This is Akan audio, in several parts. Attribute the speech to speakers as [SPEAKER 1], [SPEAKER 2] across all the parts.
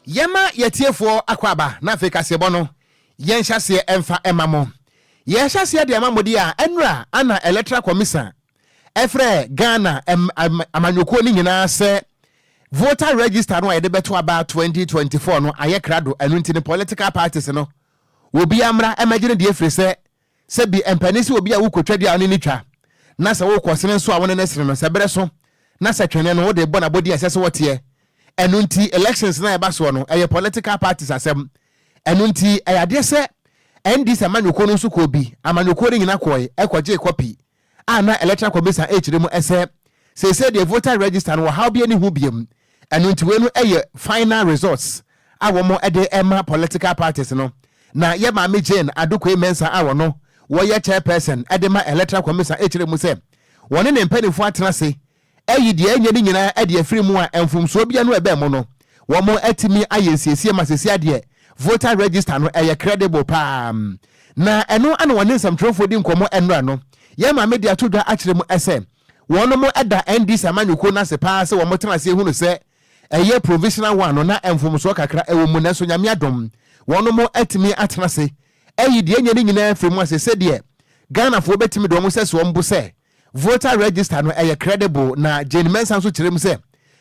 [SPEAKER 1] Yɛma yɛatiefoɔ akwaaba na afei kaseɛbɔ no yɛn hyɛaseɛ ɛmfa ɛma mo. Yɛhyɛaseɛ de ama mode a ɛnora ana Electoral Commisan ɛfrɛ Ghana amanyɔkuo no nyinaa sɛ Voter Register no a yɛde bɛto aba 2024 no ayɛ krado ɛno nti no Political Parties no wɔbiara mmra ɛmɛgye no deɛ ɛfirisɛ Sɛ bi ɛmpɛ ne sɛ obi a wokotwa dua a wone no twa na sɛ wokɔ sene nso a wone no sene no sɛ berɛ so na sɛ twene no wode bɔ no abɔdin a ɛsɛ sɛ wɔteɛ ɛno nti elections no a ɛba soɔ no ɛyɛ political parties asɛm ɛno nti ɛyɛ adeɛ sɛ NDC amanyɔkuo no nso kɔɔ bi amanyɔkuo no nyina kɔɔe ɛkɔgyee kɔpii a na Electoral Commission rekyerɛ mu sɛ seesei deɛ voter register no ɔhaw biara nni ho bio, ɛno nti wei no yɛ final results a wɔde rema political parties no, na yɛ Maame Jane Adokoe Mensah a ɔno wɔyɛ chairperson de ma Electoral Commission kyerɛ mu sɛ wɔne ne mpanimfoɔ atena ase Ayi deɛ ɛnyɛ ne nyinaa de afiri mu a mfomsoɔ biara no ɛbɛ mu no, wɔn atumi ayɛ nsiesie ma sesia deɛ voter register no ɛyɛ credible paa. Na ɛno ana wɔne nsɛmtwerɛfoɔ di nkɔmmɔ ɛnora no. Yɛn maame de ato dwa akyerɛ mu ɛsɛ wɔnom da NDC amanyɔkuo no ase paa sɛ wɔn tena aseɛ hunu sɛ ɛyɛ provisional one no na mfomsoɔ kakra ɛwɔ mu nanso Nyame adom wɔnom atumi atena ase ayi deɛ ɛnyɛ ne nyinaa afiri mu ase sɛdeɛ Ghanafoɔ bɛtumi de wɔn sɛso wɔn bo sɛ Voter register no ɛyɛ credible na Jane Mensah nso kyerɛ mu sɛ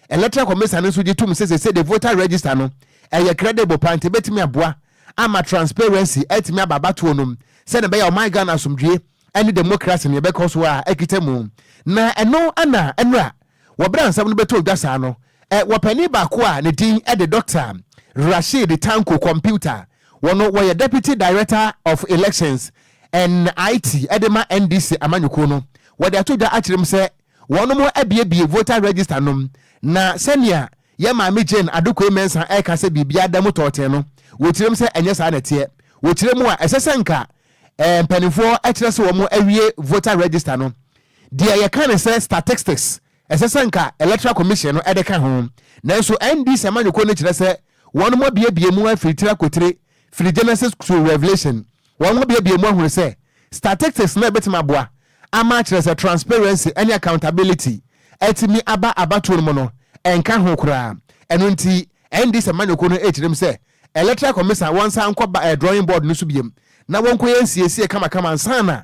[SPEAKER 1] Electoral Commission no nso gye tom sɛ seesei de voter register no ɛyɛ credible paa nti ɛbɛtumi aboa ama transparency atumi aba abatoɔ no mu sɛdeɛ ɛbɛyɛ a ɔman Ghana asomdwoeɛ ne demokrase no yɛbɛkɔ so a akita mu na ɛno na nnora Wɔ bere a nsɛm no bɛtɔɔ dwa saa no, wɔ panin baako a ne din de Dɔkta Rashid Tanko Kɔmputa, wɔ no wɔyɛ Deputy Director of Elections and IT de ma NDC amanyɔkuo no, wɔde ato dwa akyerɛ mu sɛ wɔnom abuebue voter register nom na sɛnea yɛn Maame Jane Adokoe Mensah reka sɛ biribiara da mu tɔɔtee no, wɔkyerɛm sɛ ɛnyɛ saa na ɛteɛ. Wɔkyerɛ mu a, ɛsɛ sɛ nka mpanimfoɔ kyerɛ sɛ wɔawie voter register no, Deɛ yɛka ne sɛ statistics ɛsɛ sɛ nka electoral commission no de ka ho, nanso NDC amanyɔkuo no kyerɛ sɛ wɔnom abuebue mu afiri tire akotire firi Genesis to Revelation, wɔnom abuebue mu ahunu sɛ statistics no ɛbɛtumi aboa ama akyerɛ sɛ transparency ne accountability atumi aba abatoɔ no mu no ɛnka ho koraa, ɛno nti NDC amanyɔkuo no ɛrekyerɛ mu sɛ electoral commission wɔnsan nkɔ ba drawing board no so biom na wɔnkɔyɛ nsiesie kamakama ansa na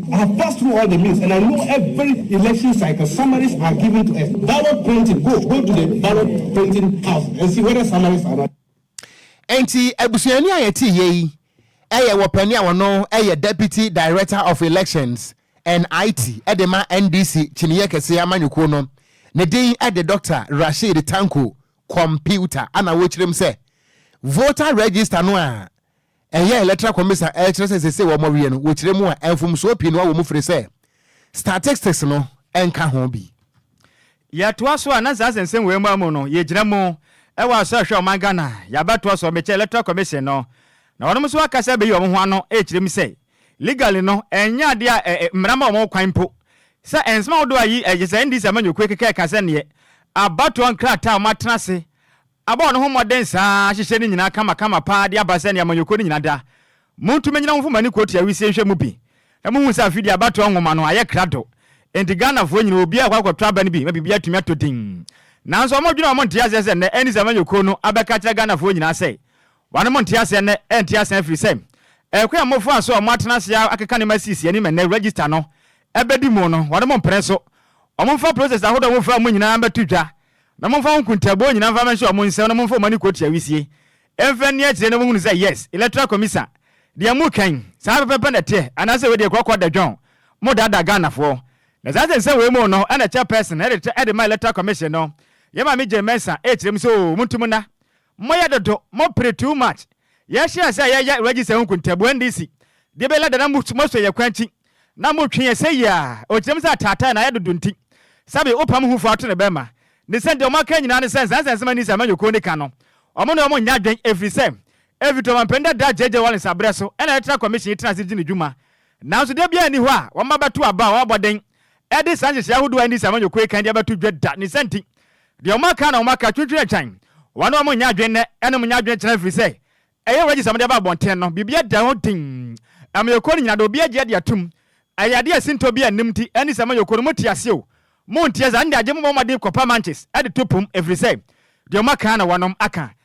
[SPEAKER 2] I've passed through all the means and I know every election cycle summaries are given to us ballot printing go go to the ballot printing
[SPEAKER 1] house and see whether summaries are not. Enti abusuani a yɛte yɛ yi yɛ wɔpani a wɔno yɛ Deputy Director of Elections and IT de ma NDC kyiniyɛ kɛseɛ amanyɔkuo no, ne din de Doctor Rasheed Tanko Computer ana wɔkyerɛm sɛ voter register no a Ɛyɛ Electoral Commission a ɛkyerɛ sɛ seesei wɔawiɛ no wɔ kyerɛ mu a mfomsoɔ pii noa wɔ mu firi sɛ statistics no nka ho bi. Yɛtoa
[SPEAKER 3] so a na saa sensem wei mmoa mu no yɛgyina mu wɔ asɔ ɛhwɛ ɔman Ghana yɛabɛtoa so ɔmekyɛ Electoral Commission no na wɔnom nso aka sɛ bɛyi wɔn ho ano ɛkyerɛ mu sɛ legally no ɛnyɛ adeɛ a ɛ mmara ma wɔn kwan mpo sɛ nsɛm ahodoɔ a yi ɛkyɛ sɛ NDC amanyɔkuo keka ɛka sɛdeɛ abatoɔ nkrataa a wɔatena ase Abɔ ne ho mmɔden saa, ahyehyɛ ne nyinaa kamakama paa de aba sɛnea amanyɔkuo no nyinaa da. Montu mɛnyina ho mfomani kɔɔti awisie nhwɛ mu bi na mohu sɛ afe di abatoɔ nwoma no ayɛ krado. Enti Ghanafoɔ nyinaa obiara rekɔ akɔtɔ aba no bi ma biribi atumi atɔ din. Nanso wɔn dwene a wɔnte aseɛ sɛ nnɛ ɛnni sɛ amanyɔkuo no abɛka akyerɛ Ghanafoɔ nyinaa sɛ wɔn monte aseɛ nnɛ ɛnte aseɛ ɛfiri sɛ ɛkwan a mofaa so a moatena ase ara akeka nneɛma asiesie anim ɛnnɛ register no ɛbɛdi mu no wɔn mpene so. Wɔmfa process ahodoɔ a mofaa mu nyinaa mmɛto dwa Na momfa ho nkontaabuo nyinaa mfa mɛnhyɛ wɔn nsam na momfa wɔn ani kɔtua wisie mfa nni akyire na monhunu sɛ yes electoral commiser deɛ mo ka yi saa pɛpɛpɛ na ɛteɛ anaasɛ wei deɛ kɔkɔ da dwɔn mo daadaa Ghanafoɔ na saa sɛ nsɛm wei mu no ɛna chairperson ɛde ɛde ma electoral commission no yɛ maame Jane Mensah ɛrekyerɛ mu sɛ oo monto mu nna Moyɛ dodo, mo pere too much, yɛ hyɛɛ sɛ yɛ yɛ register ho nkuntabu NDC deɛ bɛ lada na mo mo sɔ yɛ kwan akyi na mo twe yɛ sɛyi aa okyerɛm sɛ ataatae na ayɛ dodo nti sɛbe wo pam ho fo ato ne bɛ ma ne sɛ deɛ ɔmo aka nyinaa ne sɛ nsansa nsɛm NDC amanyɔkuo no ka no ɔmo ne ɔmo nyɛ adwen ɛfiri sɛ ɛfiri to ɔmampanin dadaa JJ Rawlings abrɛ so ɛna yɛtena commission yi tena ase gye ne dwuma nanso da biara nni hɔ a wɔn abɛto aba a wɔn abɔden ɛde saa nhyehyɛɛ ahodoɔ a NDC amanyɔkuo yi kan de abɛto dwa da ne sɛ nti Deɛ wɔn aka na wɔn aka twintwini agyan, wɔn a wɔn nnya adwene nnɛ ɛna wɔn nnya adwene kyena ɛfiri sɛ ɛyɛ wages a wɔde aba abɔnten no biribi ɛda hɔ dinn ɛma yɛkɔ no nyina deɛ obi agye adi atom ɛyɛ adeɛ a sintɔ biara nnim nti ɛne sɛ ɛma yɛkɔ no mote aseɛ o monteɛ saa ɛnde agye mo bɔ mmɔden kɔpa manches ɛde to pom ɛfiri sɛ deɛ wɔn aka na wɔnom aka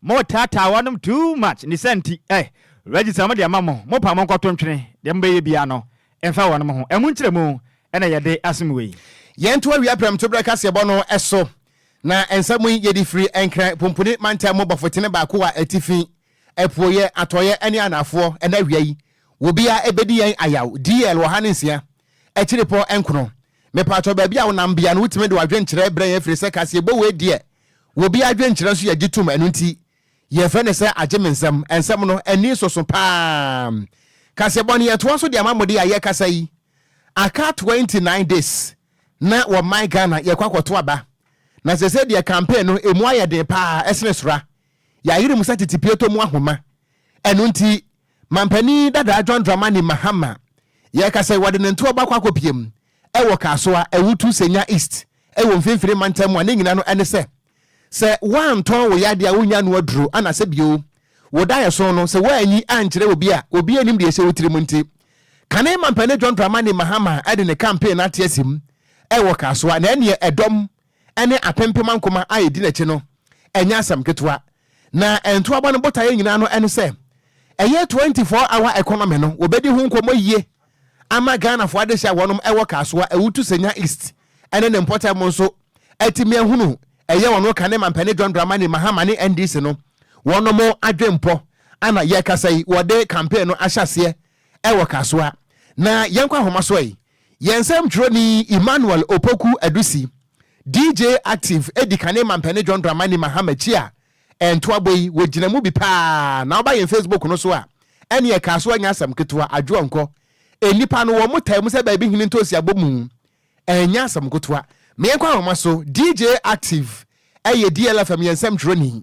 [SPEAKER 3] Mo taataa wɔ nom too much ne saa nti eh Reggie sɛ wɔn de ama mo mo pa mo nkɔ to ntwene deɛ mo bɛ yɛ biaa no nfa wɔ nom ho ɛmu nkyerɛ mu ɛna yɛ de asom wei. Yɛn to awia prɛm
[SPEAKER 1] to berɛ kaseɛbɔ no so na nsa mu yi yɛ de firi Nkran Pumpuni Mantam mu Bɔfotene baako wɔ atifi, apueɛ, atɔeɛ ne anaafoɔ ɛna awia yi wɔ biaa ɛbɛ di yɛn ayaw DL ɔha ne nsia Akyirepɔ nkron. Mepaatɔ baabi a wo nam bia no wo tumi de w'adwenkyerɛ brɛ yɛn firisɛ kaseɛbɔ wei deɛ wɔ bi adwenkyerɛ nso yɛ gye tom ɛno nti yɛ frɛ no sɛ agye me nsɛm ɛnsɛm no ani soso paa kaseɛbɔ no yɛ toa so de ama mo de a yɛ kasa yi aka 29 days na wɔ man Ghana yɛ kɔ akɔto aba na sese deɛ campaign no emu ayɛ den paa ɛsene sora yɛ ayere mu sɛ tete pie tɔ mu ahoma ɛno nti Manpanin dadaa John Dramani Mahama yɛreka sɛ wɔde ne ntoɔ baako akɔpue mu wɔ Kasoa, Awutu, Senya East wɔ mfimfini mantam mu a ne nyina no ne sɛ, sɛ woantɔn wo yadeɛ a wonnya nnoa duro ana sɛ bio wo daeɛso no sɛ woanyi ankyerɛ obi a obiara nnim deɛ ɛhyɛ wo tirim nti kane Manpanin John Dramani Mahama de ne campaign no ateasim wɔ Kasoa na ɛneɛ ɛdɔm ne apempem ankoma a edi n'akyi no, ɛnyɛ asɛm ketewa. Na ntoaba no botaeɛ nyinaa no ne sɛ ɛyɛ 24 hour economy no wɔbɛdi ho nkɔmmɔ yie ama Ghanafoɔ adehyeɛ a wɔnom wɔ Kasoa, Awutu, Senya East ne ne mpɔtam nso atumi ahunu ɛyɛ wɔn ka ne Mampanin John Dramani Mahama ne NDC no wɔnom adwempɔ a na yɛkasa yi wɔde campaign no ahyɛ aseɛ wɔ Kasoa. Na yɛnkɔ ahomasoɔ yi. Yɛn nsɛmtwerɛni Emmanuel Opoku Adusi, DJ Active, adi kane ma Mpanin John Dramani Mahama akyi a ɛntoabɔ yi, wɔgyina mu bi paa na woba yɛn Facebook no so a, ɛneɛ ɛkaa so a nyɛ asɛm ketewa, adwoɔ nkɔ. Nnipa no, wɔn taa mu sɛ baabi hene ntoosi abɔ mu, ɛnyɛ asɛm nkotoa. Meɛnkɔ ahoma so, DJ Active yɛ DLFM yɛn nsɛmtwerɛni,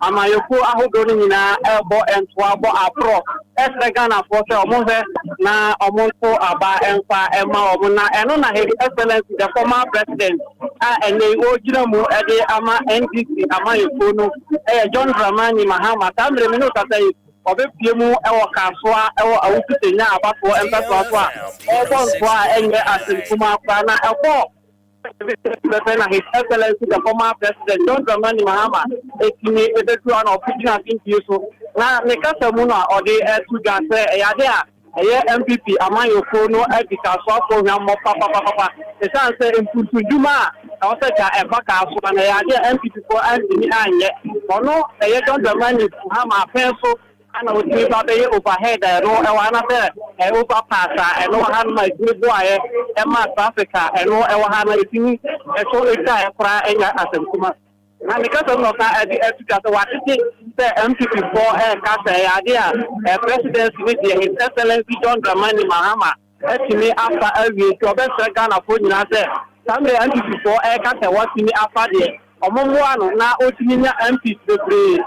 [SPEAKER 4] Amanyɔkuo ahodoɔ no nyinaa bɔ ntoa bɔ aporɔ srɛ Ghanafoɔ sɛ wɔnhwɛ na wɔnto aba mfa ma wɔn na ɛno na His Excellency the former President a ɛnnɛ yi ɔregyina mu de ama NDC amanyɔkuo no yɛ John Dramani Mahama. Saa mmerɛ mi ne wokasa yi ɔbɛpue mu wɔ Kasoa wɔ Awuku Senya Abatoɔ mpɛsoa so a ɔrebɔ ntoa a ɛnyɛ asɛm kumaa koraa na ɛkɔɔ Pɛpɛɛpɛ na His Excellency the former President John Dramani Mahama tumi bɛduru a na ɔfiri gyina afintuo so na ne kasa mu no a ɔde to dwa sɛ ɛyɛ adeɛ a ɛyɛ NPP amanyɔkuo no adikasoafoɔ hwammɔ papapapapa ɛsiane sɛ mpuntunnwuma a ɛwɔ sɛ ka ɛfa kaa so no ɛyɛ adeɛ a NPPfoɔ antumi anyɛ ɔno ɛyɛ John Dramani Mahama apɛn so Ana otumi ba bɛyɛ overhead a ɛno ɛwɔ ha na sɛ ɛyɛ overpass a ɛno wɔ ha no ma ɛtumi boaeɛ ɛma traffic a ɛno ɛwɔ ha no ɛtumi ɛso ɛtwaeɛ koraa ɛnya asɛmkuma. Na ne kasa mu na ɔsan ɛde ɛto dwa sɛ wɔatete sɛ NPP foɔ ɛreka sɛ ɛyɛ adeɛ a Presidency no deɛ His Excellency John Dramani Mahama atumi afa awie nti ɔbɛsrɛ Ghanafoɔ nyinaa sɛ saa mmerɛ NPP foɔ ɛreka sɛ wɔatumi afa deɛ, wɔn mmoa no na ɔtumi nya MPs bebree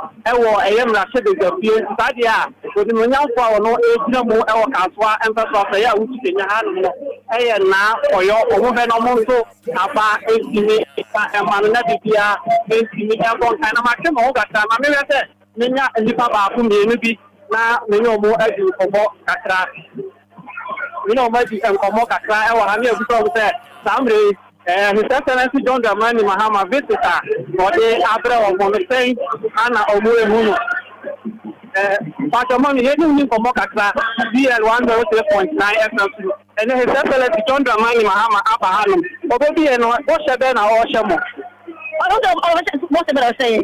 [SPEAKER 4] wɔ ɛyɛ mmarahyɛbadwafie nti saa deɛ a Onimuonyamfoɔ a ɔno ɛregyina mu wɔ Kasoa mpɛso asɛeɛ a wotu kenya hanom no ɛyɛ nnaa ɔyɔ wɔn bɛ na wɔn nso afa ntumi nfa mma no na biribiara ntumi nkɔ nkan na matwe me ho kakra ma mehwɛ sɛ menya nnipa baako mmienu bi na me ne wɔn adi nkɔmmɔ kakra. Me ne wɔn adi nkɔmmɔ kakra wɔ ha ne abisa wɔn sɛ saa mmerɛ yi His Excellency John Dramani Mahama visit a ɔde abrɛ wɔn no sɛn na wɔn ɛhu no. Mpakyɛ ma me yɛne wo ni nkɔmmɔ kakra BL 103.9 FM so. Ɛnɛ His Excellency John Dramani Mahama aba ha nom, ɔbɛbi yɛn no, bɔhyɛ bɛn na ɔrehyɛ mo? Ɔhyɛ bɔhyɛ bɛn na ɔhyɛ yɛn?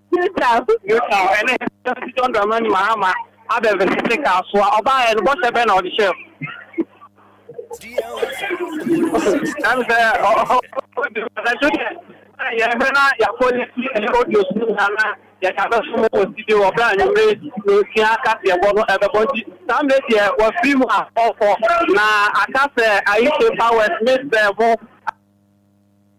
[SPEAKER 4] Utah, Utah, ɛne President John Dramani Mahama abɛvese te kasoa. Ɔbaeɛ no, bɔhyɛ bɛn na ɔde hyɛɛ mu? Ɛne sɛ ɔdwo deɛ yɛhwɛ na yɛapolisi ɛne audio so nyinaa na yɛde abɛso mu wɔ studio wɔ berɛ a anwummere nsia kaseɛbɔ no ɛbɛbɔ nti saa mmerɛ deɛ wafiri mu a ɔkɔ na aka sɛ Aisha Powers Miss Bɛn ho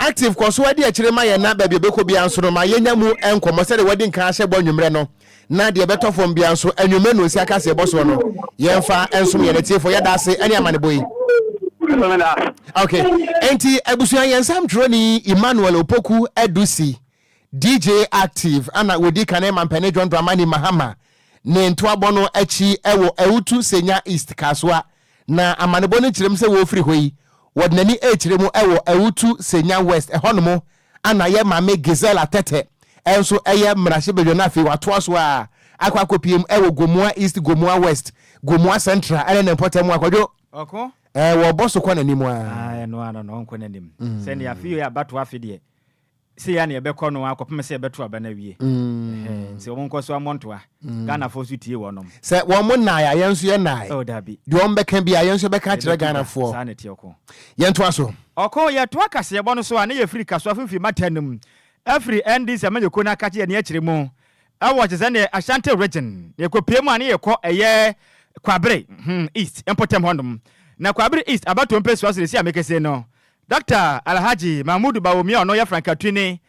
[SPEAKER 1] Active kɔ so adi akyire ma yɛn na baabi a ɔbɛkɔ biara nso no ma yɛnya mu nkɔmmɔ sɛdeɛ wɔadi nkan ahyɛ bɔ anwummerɛ no na deɛ ɛbɛtɔ fam biara nso anwummerɛ no nsia kaseɛbɔ soɔ no yɛmfa nsom yɛn atiefoɔ. Yɛda ase ne amanebɔ yi. Ok, enti abusua yɛn nsɛm twerɛni Emmanuel Opoku Adusi, DJ Active, ɛna wɔdi kan ɛma Mpanin John Dramani Mahama ne ntoabɔ no akyi ɛwɔ Awutu Senya East Kasoa Na amanebɔ no kyerɛm sɛ wɔrefiri hɔ yi, wɔde n'ani rekyerɛ mu wɔ Awutu Senya West, ɛhɔnom ara na yɛn maame Gisela Tete nso yɛ mmarahyɛbadwa no afei watoa so ara akɔ akɔpiem wɔ Gomoa East, Gomoa West, Gomoa Central ne ne mpɔtam a Kwadwo Ɔko? Ɛɛ,
[SPEAKER 3] wɔbɔ so kɔ
[SPEAKER 1] n'anim ara. Ah, ɛno ara no, ɔnkɔ n'anim.
[SPEAKER 3] Sɛnea afei yɛ abatoa afe deɛ, Sei ara na yɛbɛkɔ no ara kɔpem sɛ yɛbɛto aba no awie. Ɛhɛɛ, nti wɔn nkɔ so ammɔ ntoa. Ghanafoɔ nso tie wɔnom. Sɛ wɔn nnae a,
[SPEAKER 1] yɛn nso yɛ nnae. Oh, dabi. Deɛ wɔn bɛka
[SPEAKER 3] biara, yɛn nso
[SPEAKER 1] yɛbɛka akyerɛ Yɛbɛtu da. Ghanafoɔ. Saa na ɛteɛ ɔko.
[SPEAKER 3] Yɛn toa so.
[SPEAKER 1] Ɔko, yɛtoa
[SPEAKER 3] kaseɛbɔ no so a, na yɛfiri Kasoa Fimfini Matan no mu, afiri NDC amanyɔkuo no akakye yɛn akyire mu, ɛwɔ te sɛ neɛ Ashanti Region, na yɛkɔpue mu a na yɛkɔ ɛyɛ Kwabere, hmm, East, mpɔtam hɔnom. Na Kwabere East abatoɔ mpɛsua so na ɛsi a mekese no, Dɔkta Alhaji Mahmudu Bawumia a ɔno yɛ frankatwini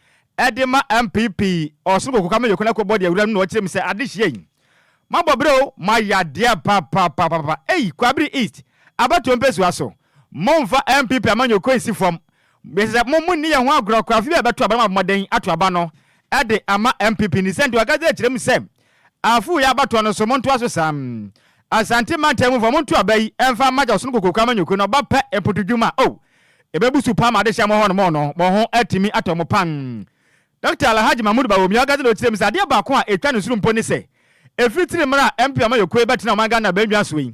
[SPEAKER 3] de ma NPP Ɔsoro Kokoka Mayor kwan akɔ bɔ deɛ wura no na ɔkyerɛ mu sɛ adehyia yi moabɔ bere o, moayɛ adeɛ papapapaapa ei Kwabere East abatoɔ mpɛsua so momfa NPP amanyɔkuo nsi fam mesrɛ sɛ mo monni yɛn ho agorɔ kwafi bi a ɛbɛto aba no moabɔ mmɔden ato aba no de ama NPP ni sɛ nti ɔkasa kyerɛ mu sɛ Afu yɛ abatoɔ no so montoa so saa. Asante mantam mu foɔ monto aba yi mfa mma gya ɔsono kokoku amanyɔkuo no ɔba pɛ mpoto dwuma oh ɛbɛbu su paa ma adehyeɛ mo hɔ nom no mo ho atumi atɔ mo pan Doctor Alhaji Mahmood Bawumia Ogazina ɔkyerɛ mu sɛ adeɛ baako a ɛtwa ne soro mpo ne sɛ ɛfiri tiri mmara a MP amanyɔkuo yi bɛtena ɔman Ghana abannwa so yi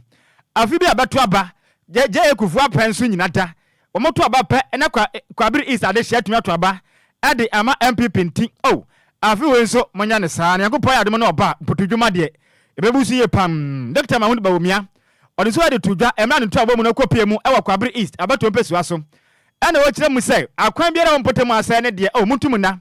[SPEAKER 3] afe bi a ɛbɛto aba gya gya yɛ kufuo apɛn so nyina da Wɔto aba pɛ na kwa Kwabere East adehye atumi ato aba de ama NPP nti oh afe wei nso monyɛ no saa na Nyankopɔn ayɛ adom na ɔba mputu dwuma deɛ ɛbɛbu so yie pam. Dokita Mahud Bawumia ɔde nsuo de too dwa mmerɛ a ne ntoaboɔ mu no kɔ pue mu wɔ Kwabere East abatoɔ mpɛsua so ɛna ɔkyerɛ mu sɛ akwan biara wɔ mpɔtam asɛe ne deɛ oh monto mu nna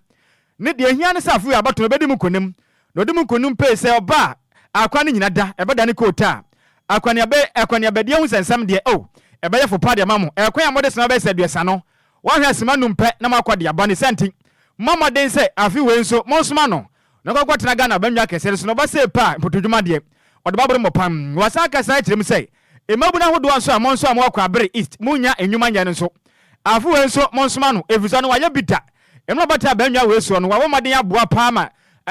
[SPEAKER 3] Ne deɛ ɛhia ne sɛ afei abatoɔ no bɛdi mu nkonim, na ɔdi mu nkonim pee sɛ ɔba a akwan no nyina da, ɛbɛdane kootaa. Akwaneabe, akwaneabadi ahu sɛ nsɛm deɛ, oh, ɛbɛyɛ fo paa de ama mo, ɛkwan a mode soma bɛyɛ sɛ aduasa no, wɔahwɛ asima anum pɛ na moakɔ de aba, ne saa nti, momma mmɔden sɛ afe wei nso monsoma no na ɔnkɔ nkɔtena Ghana abannwa kɛseɛ no so, na ɔba sei pɛ a, mpotodwuma deɛ, ɔde bɛaboro mo pam. Wɔasan aka saa akyerɛ mu sɛ, Mmabun ahodoɔ nso a monsoa mo akɔ Abere East, monnya nnwuma nyɛ no nso, afe wei nso monsoma no, ɛfiri sɛ ɔno wayɛ bi da. Mmerɛ a ɔbɛtaa abannwa wei soɔ no, wabɔ mmɔden aboa pa ara ma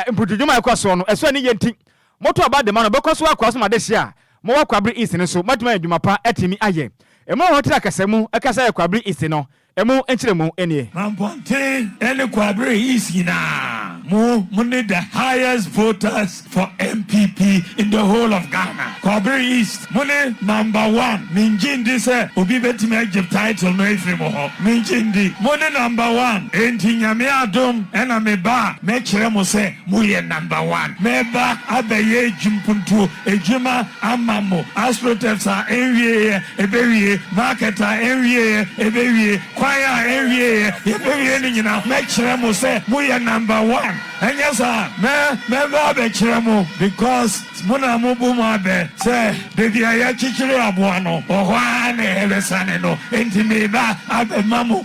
[SPEAKER 3] mpuntudwuma a ɛkɔ soɔ no, ɛsɔ ani yie nti, moto aba de ma no, ɔbɛkɔ so akoa so ma adehyeɛ a mowɔ kɔ Abere East no nso, moatumi anya adwuma pa atumi ayɛ. Mmerɛ a ɔhɔ tiri akasa mu ɛkasa yɛ kɔ Abere East no, Emu nkyerɛmu nie. Manpɔnten
[SPEAKER 5] ne Kwabre East nyinaa mo mo ne the highest voters for NPP in the whole of Ghana. Kwabre East mo ne number one. Me ngye ndi sɛ obi bɛtumi agye title no afiri mo hɔ. Me ngye ndi. Mo ne number one. Enti Nyame adom na me ba a mɛkyerɛ mo sɛ mo yɛ number one. Mɛba abɛyɛ adwumpuntuo Adwuma ama mo. Astroturfs a ɛnwieɛ, ɛbɛwie. Market a ɛnwieɛ, ɛbɛwie. Kwan a ɛnwieɛ, yɛbɛwie ne nyinaa. Mɛkyerɛ mo sɛ moyɛ number one. Ɛnyɛ saa? Mɛ, mɛba abɛkyerɛ mo because mo na mobu mo abɛ sɛ baabi a yɛakyekyere aboa no, hɔ ara na yɛbɛsane no. Enti meba abɛma mo.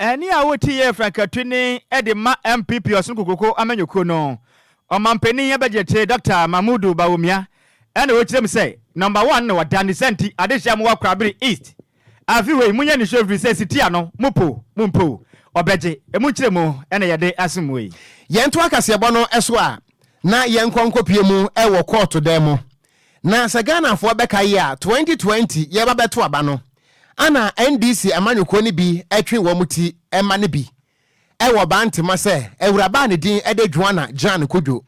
[SPEAKER 3] Ɛnne a ɔreti yɛ frankatuni de ma MPP Ɔsono Kokoko amanyɔkuo no ɔmanpanin abɛgyetee Dɔkta Mahmudu Bawumia na ɔrekyerɛ mu sɛ nɔmba one na ɔda ne saa nti adehyia mo wɔ Kwabere East afe wei monyɛ nisuo ɛfiri sɛ sitia no mo po mo mpo ɔbɛgye ɛmu nkyerɛmu na yɛde asom mo yi. Yɛntoa kaseɛbɔ
[SPEAKER 1] no so a na yɛnkɔ nkɔpue mu wɔ kɔɔto dan mu Na sɛ Ghanafoɔ bɛka yi a, 2020 yɛba bɛto aba no, ana NDC amanyɔkuo no bi twe wɔn ti ma no bi wɔ baa ntema sɛ awuraba a ne din de Joana Jan Kodwo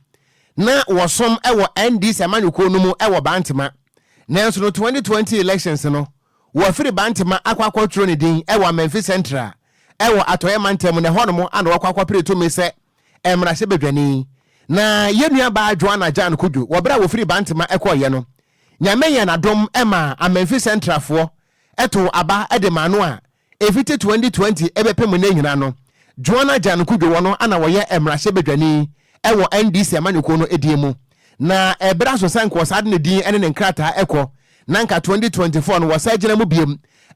[SPEAKER 1] na wɔsom wɔ NDC amanyɔkuo no mu wɔ baa ntema nanso no 2020 elections no wɔafiri baa ntema akɔ akɔtwerɛ ne din wɔ Amanfi Central wɔ Atɔeɛ Mantam na ɛhɔnom ana wɔakɔ akɔpere tumi sɛ mmarahyɛbadwani, na yɛn nuabaa Joanna Jane Kudjo wɔ berɛ a wɔfiri Bantama kɔeɛ no, Nyame yɛɛ n'adom maa Amanfi Centralfoɔ too aba de maa no a ɛfiti 2020 bɛpem nnɛ nyinaa no, Joanna Jane Kudjo wɔ no na ɔyɛ mmarahyɛbadwani wɔ NDC amanyɔkuo no din mu. Na ɛberɛ aso sɛ nka ɔsaa de ne din ne ne nkrataa kɔ, na nka 2024 no wɔsaa gyina mu bio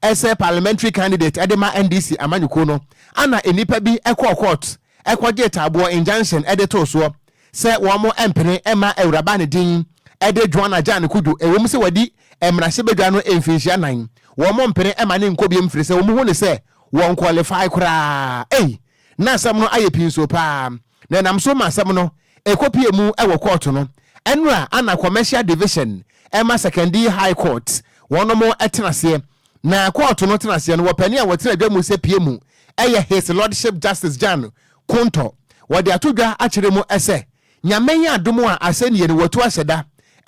[SPEAKER 1] ɛsɛ parliamentary candidate de ma NDC amanyɔkuo no ana nnipa bi kɔɔ court kɔgyee taaboɔ, injunction, de too soɔ sɛ wɔn mpene mma Awuraba ne din de Joanna Jane Kudjo ɛwom sɛ wadi mmarahyɛbadwa no mfinhyia nan wɔn mpene mma no nkɔ biom firisɛ wɔn hu no sɛ wɔn qualify koraa ei na asɛm no ayɛ pinso paa na ɛnam so ma asɛm no kɔpuee mu wɔ kɔɔto no ɛno a ana Commercial Division ma Sekondi High Court wɔnom tenaseɛ na kɔɔto no tenaseɛ no wɔpɛne a wɔtena dwa mu sɛ pie mu yɛ His Lordship Justice Jan Kontɔ wɔde ato dwa akyerɛ mu sɛ Nyame adom a asɛnnie no wɔatu ahyɛ da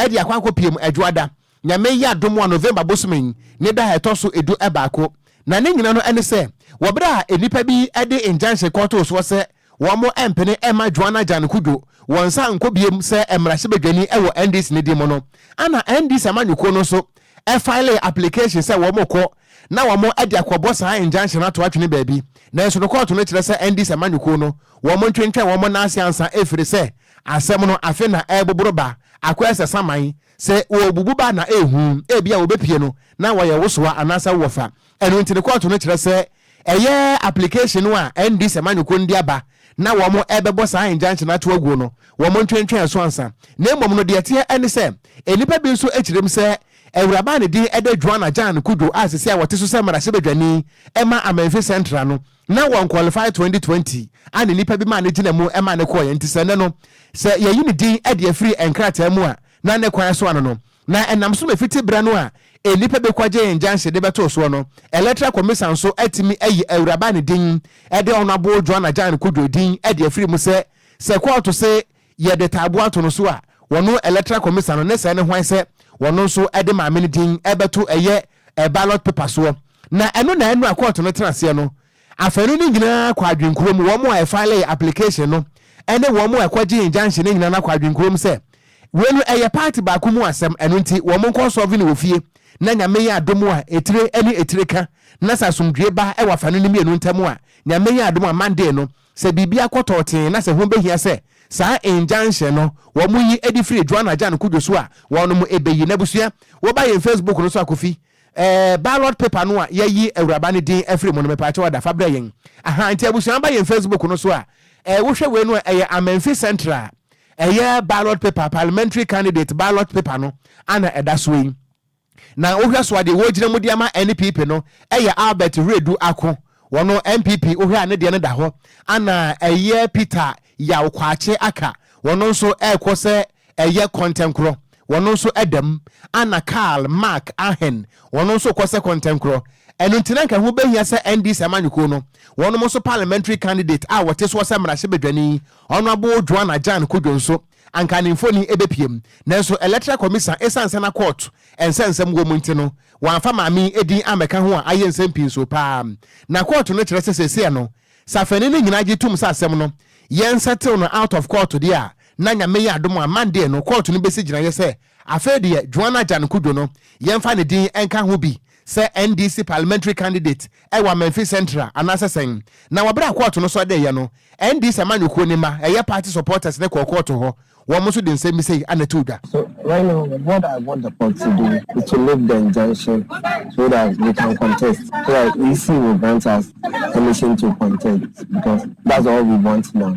[SPEAKER 1] de akɔ akɔpiem Adwoada Nyame yɛ adom a November bosome yi ne da a ɛtɔ so edu baako, na ne nyina no ɛne sɛ wɔ bere a nnipa bi de injunction kɔtoo soɔ sɛ wɔn mpene mma Joanna Jan Kudjo wɔn nsa nkɔ biom sɛ mmarahyɛbadwani wɔ NDC no din mu no, ɛna NDC amanyɔkuo no nso filee application sɛ wɔn rekɔ na wɔn de akɔbɔ saa injunction no ato atwene baabi, nanso no kɔɔto no kyerɛ sɛ NDC amanyɔkuo no wɔn ntwentwɛn wɔn nan ase ansa ɛfiri sɛ asɛm no afe na ɛreboboro ba akɔ ɛsɛ saman. Sɛ wɔbubu ba na ɛyɛ hu, ebia wɔbɛpue no na wɔayɛ wo soa anaasɛ wo wɔfa. Ɛno nti no kɔɔto no kyerɛ sɛ ɛyɛ application no a ɛnde sɛ manyoko nde aba na wɔrebɛbɔ saa injunction no ato aguo no, wɔntwentwɛn ɛso ansa. Na mmom no, deɛ ɛteɛ ɛne sɛ, nnipa bi nso kyerɛm sɛ awuraba a ne din de Juana Jan Cudjoe a seesei a ɔte so sɛ mmarahyɛbadwani ma Amenfi Central no, na wɔn qualify 2020 a ne nipa bi maa ne gyina mu maa ne kɔɔeɛ nti sɛ nnɛ no sɛ yɛyi ne din de afiri nkrataa mu a na ne kwan so ano no na ɛnam so ma fiti berɛ no a nnipa bi kɔgyee injunction de bɛtoo soɔ no electoral commisan nso atumi ayi awuraba ne din de honourable Joan Agyang Kudjoe din de afiri mu sɛ sɛ kɔɔto se yɛde taaboa ato no so a wɔno electoral commisan no ne sɛ ne hwan sɛ wɔno nso de maame no din bɛto ɛyɛ ɛ ballot paper soɔ, na ɛno na ɛno a kɔɔto no tena aseɛ no afanu no nyinaa kɔ adwenkuo mu, wɔn a ɛfilee application no ne wɔn a ɛkɔgyee injunction no nyinaa no akɔ adwenkuo mu sɛ wei no ɛyɛ party baako mu asɛm, ɛno nti wɔn nkɔ solve no wɔ fie na Nyame yɛ adom a etire ne etire ka na sɛ asomdwoe ba wɔ afanu no mmienu ntam a Nyame yɛ adom a Monday no Sɛ biribi akɔ tɔɔtee na sɛ ho behia sɛ saa injunction no wɔyi ɛde firi Joan Ajan Cudjoe so a, wɔnom ebeyi. N'abusua, woba yɛn Facebook no so a Kofi, ɛɛ ballot paper no a yɛayi awuraba no din afiri mu no mepaakyɛw ada fa brɛ yɛn. Ahaa nti abusua ba yɛn Facebook no so a, ɛɛ wohwɛ wei no a ɛyɛ Amenfi Central ɛyɛ ballot paper, parliamentary candidate ballot paper no ana ɛda soɔ yi. Na wohwɛ so a deɛ wɔregyina mu de ama NPP no yɛ Albert Wiredu Ako, wɔno NPP wohwɛ a ne deɛ no da hɔ, ana ɛyɛ Peter Yaw Kwakye Aka, wɔno nso ɛrekɔ sɛ ɛyɛ Kɔntɛnkorɔ, wɔno nso da mu, ana Karl Mark Ahen, wɔno nso rekɔ sɛ Kɔntɛnkorɔ. Ɛno nti na anka ɛho bɛhia sɛ NDC amanyɔkuo no, wɔnom nso Parliamentary candidate a wɔte soɔ sɛ mmarahyɛbadwani, Honourable Joanna Jane Kudjo nso, anka ne mfoni bepue mu. Nanso Electoral Commission esiane sɛ na kɔɔto nsɛ nsɛm wɔ mu nti no, wɔamfa maame yi din ammɛka ho a ayɛ nsɛm pii nsow paa. Na kɔɔto no kyerɛ sɛ seesei no, sɛ afɛnni no nyinaa gye tom sɛ asɛm no yɛnsɛtew no out of kɔɔto deɛ a, na Nyame yɛ adom a Monday no kɔɔto no besi gyinaeɛ sɛ Afei deɛ Joan Ajan Kudjo no, yɛmfa ne din nka ho bi sɛ NDC Parliamentary candidate wɔ Amenfi Central anaasɛ sɛn? Na wɔ berɛ a kɔɔto no sɔdeeɛ no, NDC amanyɔkuo no mma, ɛyɛ party supporters no kɔɔ kɔɔto hɔ, wɔn nso de nsɛm bi sei na ɛtoo dwa. So right now
[SPEAKER 6] what I want the court to do is to lift the injunction so that we can contest so that EC will grant us permission to contest because that's all we want now.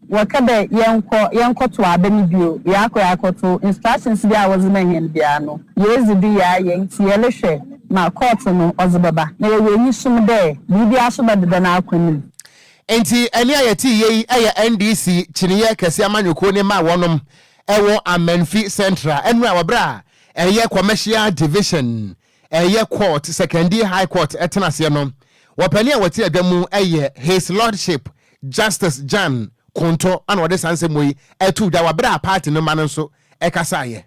[SPEAKER 7] Wɔkɛ dɛ yɛnkɔ yɛnkɔtow aba no bio, yɛakɔ yɛakɔtow instructions biara a wɔdze ma hɛn biara no, yeedzi do yɛayɛ, ntsi yɛrohwɛ ma court no ɔdze bɛba, na yɛwɔ enyisom dɛ biribiara so bɛdeda n'akwan mu. Ntsi
[SPEAKER 1] ɛnne a yɛtse yɛ yi yɛ NDC kyineeɛ kɛse amanyɔkuo no mma wɔnom ɛwɔ Amanfi Central ɛno a wɔ berɛ a ɛyɛ Commercial Division ɛyɛ Court, Sekondi High Court ɛtena aseɛ no, wɔpanin a wɔte adwa mu yɛ His Lordship Justice Jan Konto ɛna ɔde saa nsɛm wei ɛtoo dwa wɔ aberɛ a party no mma no nso ɛkasaeɛ.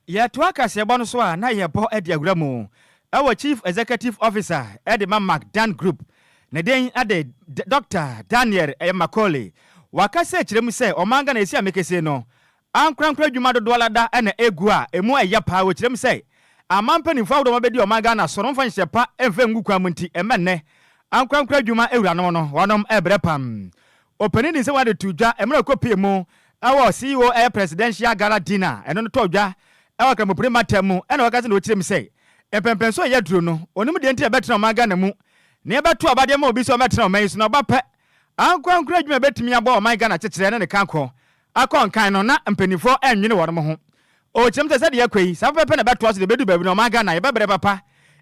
[SPEAKER 3] Yɛtoa kaseɛbɔ no so a, na yɛbɔ de awura mu wɔ Chief Executive Officer de ma Macdan Group, ne din de Doctor Daniel Macaulay. Waka sɛ kyerɛ mu sɛ Ɔman Ghana ɛsi amekese no, Ankorankoro adwuma dodoɔ ara da na ɛgu a ɛmu ɛyɛ paa wɔ kyerɛm sɛ aman mpaninfoɔ ahodoɔ ma bɛdi ɔman Ghana so no mfa nhyɛ pa mfa ngu kwan mu nti ɛmɛ nnɛ ankorankoro adwuma awuranom no wɔnom ɛbrɛ pam Opanin Ninsewa de too dwa mmerɛ ɔkɔ pie mu wɔ CEO ɛyɛ Presidential Gala Dinner ɛno no tɔɔ dwa wɔ Kramopri Matam mu ɛna ɔka sɛ na ɔkyerɛm sɛ mpɛmpɛnsoɔ a ɛyɛ aduro no ɔnim deɛ nti na ɛbɛtena ɔman Ghana mu na yɛbɛto aba de ama obi sɛ ɔmmɛtena ɔman yi so na ɔba pɛ ankorankoro adwuma ɛbɛtumi aboa ɔman Ghana kyekyerɛ ne ne kankɔ Akɔ nkan no, na mpaninfoɔ nnwene wɔnom ho. O, kyerɛm sɛ sɛdeɛ ɛrekɔ yi, saa pɛpɛpɛ na ɛbɛtoa so de ɛbɛduru baabi no, ɔman Ghana, yɛbɛbrɛ papa.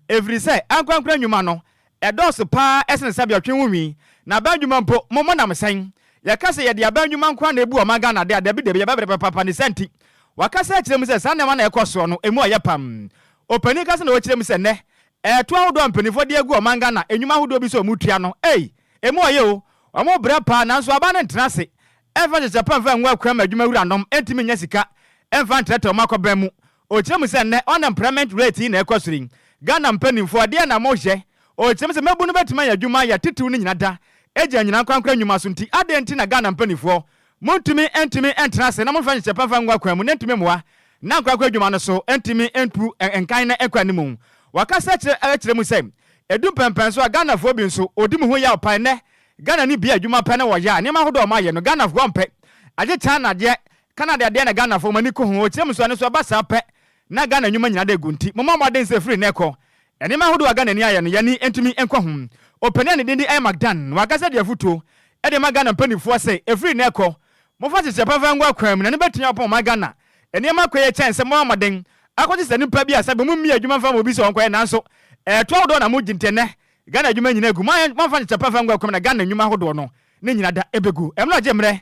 [SPEAKER 3] Ɛfiri sɛ, ankorankora nnwuma no, ɛdɔɔso pa ara sene sɛdeɛ ɔtwe ho nwi. Na aban nnwuma mpo, mo, monam sɛn? Yɛka sɛ yɛde aban nnwuma nko ara na ɛbu ɔman Ghana de a, dabi dabi, yɛbɛbrɛ papa. Ne saa nti, wɔakasa akyerɛ mu sɛ saa nneɛma no a ɛrekɔ soɔ no, ɛmu ɔyɛ pam. Ɔpanin kasa na ɔkyerɛ mu sɛ nnɛ, ɛɛto ahodoɔ a mpaninfoɔ de agu ɔman Ghana nnwuma ahodoɔ bi so a wɔtua no, ei, ɛmu ɔyɛ o, wɔbrɛ pa ara, nanso aban no ntena ase, Ɛmfa nhyehyɛe pa mfa ngu akuraa ma adwuma wuranom ntumi nnya sika mfa ntrɛtrɛw wɔn akɔbɛn mu. Ɔkyerɛ mu sɛ, Nnɛ unemployment rate yi na ɛkɔ soro yi, Ghana mpanimfoɔ, deɛn na mohyɛ? Ɔkyerɛ mu sɛ, Mmabunu bɛtumi ayɛ adwuma ayɛ titiriw no nyina da, ɛgya anyina ankorankoro nnwuma so nti, adɛn nti na Ghana mpanimfoɔ montumi ntumi ntra ase na momfa nhyehyɛe pa mfa ngu akuraa mu na ɛntumi mmoa na ankorankoro adwuma no so ntumi ntu nkan na ɛnkɔ anim? Wakasa akyerɛ mu sɛ, Ɛdu mpɛnpɛnso a Ghanafoɔ bi nso, ɔdi mu ho yaw pae nnɛ Ghana ne bia adwuma pɛ na wɔyɛ a nneɛma ahodoɔ a wɔn ayɛ no Ghanafoɔ mpɛ. Agye China deɛ, Canada deɛ na Ghanafoɔ wɔn ani kɔ ho. Ɔkyerɛ mu nso ɛno nso ɛba saa pɛ na Ghana nnwuma nyinaa da agu nti mommɔ mmɔden sɛ ɛfiri nnɛ kɔ nneɛma ahodoɔ a Ghana ni ayɛ no yɛn ani ntumi nkɔ ho. Ɔpanin a ne din de Emmac Dan wakasa de afutuo de ama Ghana mpaninfoɔ sɛ ɛfiri nnɛ kɔ momfa nhyehyɛɛ papa ngu akwan mu na ɛno bɛtumi aboa ɔman Ghana nneɛma akɔ yie kyɛn sɛ mobɛbɔ mmɔden akɔgye saa nipa bi a sɛbe mommie adwuma mfa ma obi sɛ ɔnkɔyɛ nanso ɛɛto ahodoɔ na mogye nti ɛnnɛ Ghana adwuma nyina gu mu a wɔmfa nkyɛ pɛfɛ ngua kɔm na Ghana nnwuma ahodoɔ no ne nyina da bɛgu mu no gye mmerɛ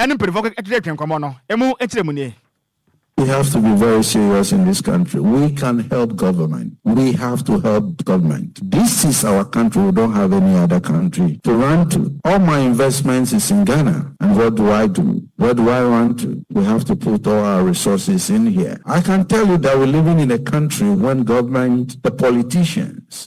[SPEAKER 3] ne mpaninfoɔ twetwetwe nkɔmmɔ no mu nkyerɛmu nie. We have to
[SPEAKER 8] be very serious in this country we can help government we have to help government this is our country we don't have any other country to run to all my investments is in Ghana and what do I do where do I run to we have to put all our resources in here I can tell you that we living in a country when government the politicians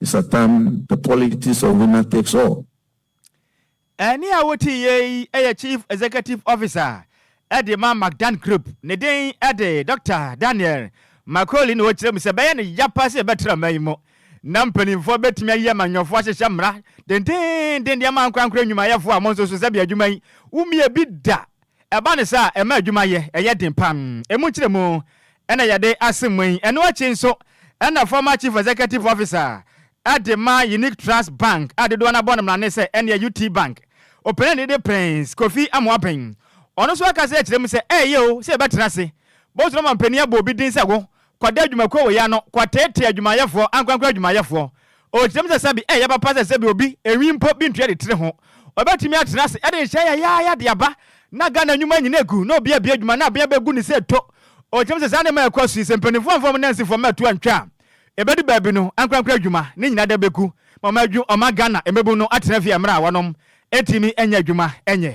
[SPEAKER 8] It's a time the politics of winner takes
[SPEAKER 3] all. Ɛnne a wotiiɛ yi yɛ Chief Executive Officer de ma Magdan Group. Ne din de Dɔkta Daniel Macaulay na ɔkyerɛ mu sɛ ɛbɛyɛ no ya paa sɛ yɛbɛtra man yi mu na mpanimfoɔ bɛtumi ayi amanyɔfoɔ ahyehyɛ mmara dendeenden de ama ankorankoro nnwumayɛfoɔ a mo nso so sɛdeɛ adwuma yi wommie bi da Ɛba no saa a, ɛma adwuma yɛ yɛ den paa. Emu nkyerɛmu na yɛde asɛm mu yi. Ɛno akyi nso na former Chief Executive Officer de ma Unique Trust Bank a dodoɔ no abɔ no mmrane sɛ ɛnneɛ UT Bank opanin a ne de Prince Kofi Amoaben. Ɔno nso akasa akyerɛ mu sɛ ɛyɛ o sɛ yɛbɛtena ase bɔ so na ama mpanin abɔ obi din sɛ wo Kɔda adwumakuo wɔ ya no kɔteetee adwumayɛfoɔ, ankorankoro adwumayɛfoɔ. Ɔkyerɛm sɛ sɛbi ɛyɛ papa sɛ sɛbi obi, enwi mpo, bi ntua de tiri ho. Ɔbɛtumi atena ase ɛde nhyɛ yayaaya de aba na Ghana nnwuma nyina agu na obi abie adwuma na abea bɛgu ne sɛ to. Ɔkyerɛm sɛ saa nneɛma a ɛkɔ so yi, sɛ mpaninfoɔ amfa wɔn nansifoɔ mmɛto antwa a, ɛbɛdu baabi no, ankorankoro adwuma ne nyina da bɛgu ma wɔn adwu ɔma Ghana mmabunu no atena fie a mmerɛ a wɔnom ntimi nyɛ adwuma nyɛ.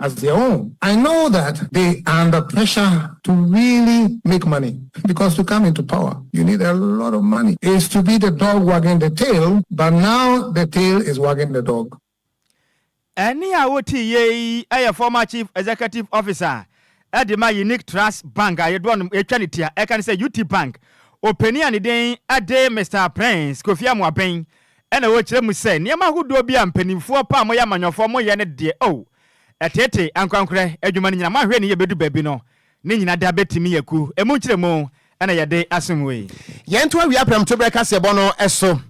[SPEAKER 9] as their own I know that they are under pressure to really make money because to come into power you need a lot of money is to be the dog wagging the tail but now the tail is wagging the dog.
[SPEAKER 3] Ɛnne a wote yɛ yi yɛ former Chief Executive Officer de ma Unique Trust Bank a yɛdoɔ nom ɛtwa ne ti a ɛka ne sɛ UTBank ɔpanin a ne din de Mister Prince Kofi Amoaben Ɛna wɔkyerɛ mu sɛ nneɛma ahodoɔ bi a mpaninfoɔ paa moyɛ amanyɔfoɔ moyɛ no deɛ oh ɛteetee ankorankorɛ adwuma no nyina moahwɛ ne yie bɛdu baabi no ne nyina da bɛtumi aku ɛmu nkyerɛmu
[SPEAKER 1] ɛna
[SPEAKER 3] yɛde
[SPEAKER 1] asom wei. Yɛn to
[SPEAKER 3] awia
[SPEAKER 1] prɛmtoberɛ kaseɛbɔ
[SPEAKER 3] no
[SPEAKER 1] so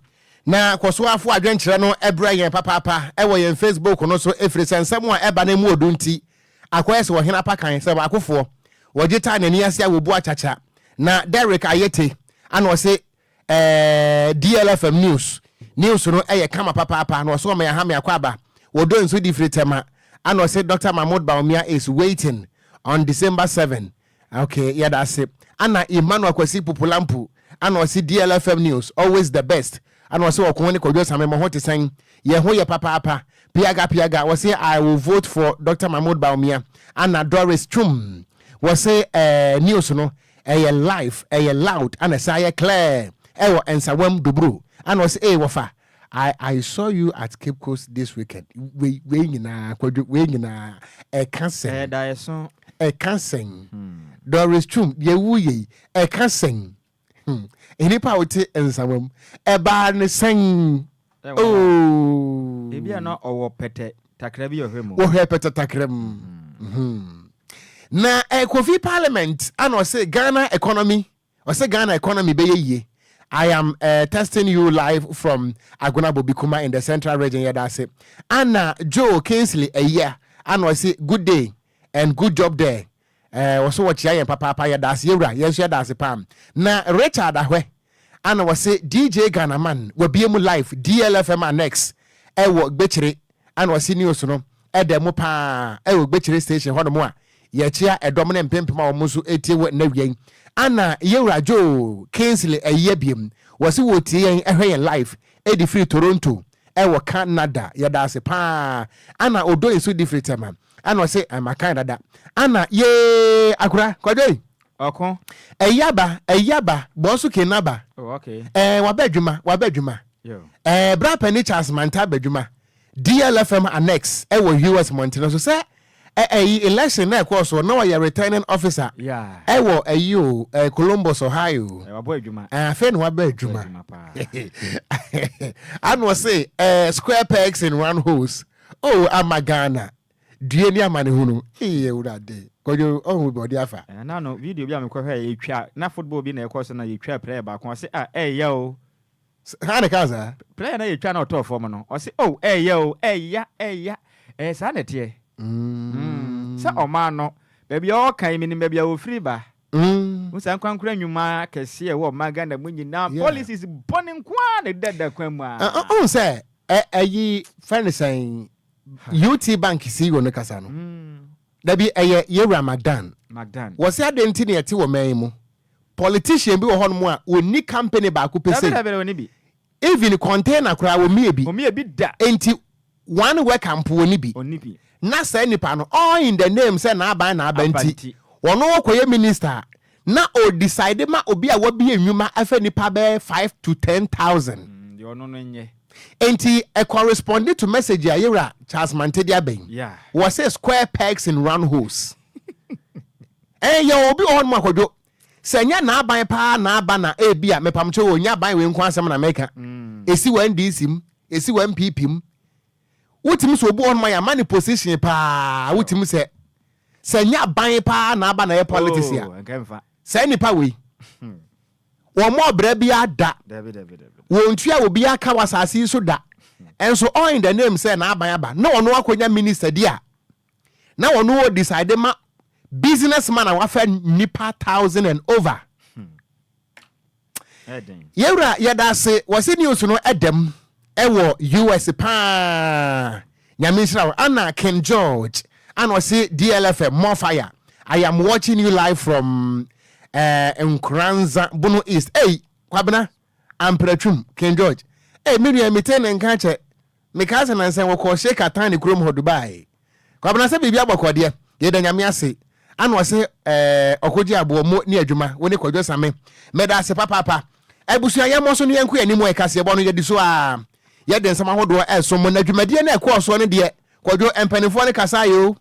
[SPEAKER 1] na kɔ so ara fa w'adwenkyerɛ no brɛ yɛn papaapa wɔ yɛn Facebook no so ɛfiri sɛ nsɛm a ɛba no mu ɔdu nti akɔyɛ sɛ ɔhene apakan sɛ baakofoɔ wɔgye taa n'ani ase a wɔbu akyakya na Derrick Ayete ana ɔse Eeii DLFM news news no yɛ kama papaapa na ɔse ɔma yɛaha me akwaaba wɔ dɔ nsu difire tɛma ana ɔse Doctor Mahmoud Bawumia is waiting on December seven ok yɛda ase ana Emmanuel Kwasi Pupulampu ana ɔse DLFM news always the best ana ɔse ɔko ne Kwadwo Same mo ho te sɛn yɛn ho yɛ papaapa piaga piaga ɔse I will vote for Doctor Mahmoud Bawumia ana Doris Twum wɔse eeii news no Ɛyɛ live, ɛyɛ loud ɛna ɛsan yɛ clear ɛwɔ Nsawam Doburo ɛna ɔse ee wɔfa I I saw you at Cape Coast this weekend wei wei nyinaa kwadwo wei nyinaa ɛka sɛn? Ɛyɛ daeɛso. Ɛka sɛn? Doris Twum deɛ ɛwu yei ɛka sɛn? Hmm nnipa a wote Nsawam ɛbaa ne sɛn?
[SPEAKER 3] Wɔhwɛɛ pɛtɛtakra
[SPEAKER 1] mu. Na Kofi Parliament ana ɔse Ghana economy ɔse Ghana economy bɛyɛ yie I am testing you live from Agona Bobikuma in the central region yɛda ase Ana Joe Kingsley Ayia ana ɔse good day and good job there Ɛɛ wɔso wɔkyea yɛn papaapa yɛdaase yɛwura yɛn nso yɛdaase paa na Richard ahwɛ ana wɔse DJ Ghana man wabie mu live DLFM annex ɛwɔ gbekyere ana wɔse news no ɛda mu paa ɛwɔ gbekyere station hɔ nom a yɛkyea ɛdɔm no mpempem a wɔn nso ɛtie wɔ nna wiɛ yi ana yɛwura Joe Kingsley ayi abiem wɔse wɔtie yɛn ɛhwɛ yɛn live ɛdi firi Toronto ɛwɔ Canada yɛdaase paa ana Odoi nso di firi Tema ɛna ɔse ɛma kan dada ana yee akora kwadwei ɔko
[SPEAKER 3] ɛyaba
[SPEAKER 1] ɛyaba bɔɔso ke naba oh, okay. ɛɛ
[SPEAKER 3] wabɛ adwuma wabɛ adwuma ɛɛ bra pɛni
[SPEAKER 1] charles manta abɛ adwuma dlfm annex ɛwɔ us mɔntene so sɛ ɛyi election na ɛkɔɔ so na ɔyɛ returning officer ɛwɔ
[SPEAKER 3] ɛyi o
[SPEAKER 1] eh, Columbus Ohio eh, afei
[SPEAKER 3] na wabɛ
[SPEAKER 1] adwuma ano ɔse eh, square pegs in round holes Oh ama Ghana due ne amanehunu ee awurade kwadwo ɔho bi ɔde afa. Ɛna no video bi a
[SPEAKER 3] mekɔhwɛ a yɛtwa na football bi na ɛkɔ so na yɛtwa player baako ɔse ah ɛɛya o. Haa na ɛkaa
[SPEAKER 1] saa. Player na yɛtwa na ɔtɔɔ
[SPEAKER 3] fam no ɔse oh ɛɛya o ɛɛya ɛɛya ɛyɛ saa na ɛteɛ mm sɛ ɔmaa no baabi a ɔɔka yi menim baabi a ɔfiri ba. Wohu saa ankorankoro nnwuma akɛseɛ a ɛwɔ ɔman Ghana mu nyinaa, Yeah. policies bɔne nko ara na ɛda da kwan mu a. Wohu sɛ ɛ-
[SPEAKER 1] ɛyi fɛ ne sɛn UT Bank CEO no kasa no. Dabi ɛyɛ Yewura Magdan. Magdan. Wɔse adɛn nti na yɛte wɔ man yi mu? Politician bi wɔ hɔnom a ɔnni company baako pɛ Dabi sei. dabi dabi ɔni bi. Even container koraa wɔmie bi. Wɔmie bi da. Enti one worker mpo wɔnni bi. Wɔnni bi. Na saa nipa no all in the name sɛ n'aban na aba nti, Abanti. wɔno kɔyɛ minister a, na ɔredecide ma obi a wabie nnwuma afɛ nnipa bɛyɛ five to ten thousand. Mm, deɛ ɔno no nyɛ.
[SPEAKER 3] Enti ɛ
[SPEAKER 1] corresponde to message a Yewura Charles Mante de aba yi. Yeah. Wɔse square pegs in round holes. Ɛɛ yɛwɔ obi wɔ hɔnom a, Kwadwo, Sɛ nyɛ n'aban paa na aba na ebia, mepamkyɛw o, nyɛ aban wei nko asɛm na meka, esi wɔ NDC mu, esi wɔ NPP mu, wotumi sɛ obi wɔ hɔnom a yɛama no position paa, wotumi sɛ, sɛ nyɛ aban paa na aba na ɛyɛ politics a, saa nnipa wei, wɔmmɔɔ bra biara da, wɔntua obiara ka wɔ asase yi so da, nso all in the name sɛ n'aban aba na ɔno akɔnya minister di a, na ɔno wɔ decide ma business man a wafa nipa thousand and over yɛwura yɛda ase wɔsi news no ɛdɛm ɛwɔ us paa nyame nhyira wo ana king george ana ɔsi dlfm more fire i am watching you live from uh, nkoranza bono east ei kwabena Amprɛ twum, King George. Ei me nua metsee ne nka kyɛ mekaa sɛ nansɛ wɔkɔɔ Sheik Athani kurom hɔ Dubai. Kwabena sɛ biribi abɔkɔ deɛ yɛda Nyame ase ana ɔse eh ɔkɔgye aboɔ mo ni adwuma wo ne Kwadwo Same meda ase papaapa abusua yɛmmɔ so ne yɛnko yɛn anim ɛ kaseɛbɔ no yɛdi so aa yɛde nsɛm ahodoɔ ɛresom mo na dwumadie no a ɛkɔɔ soɔ no deɛ Kwadwo mpaninfoɔ no kasaeɛ oo.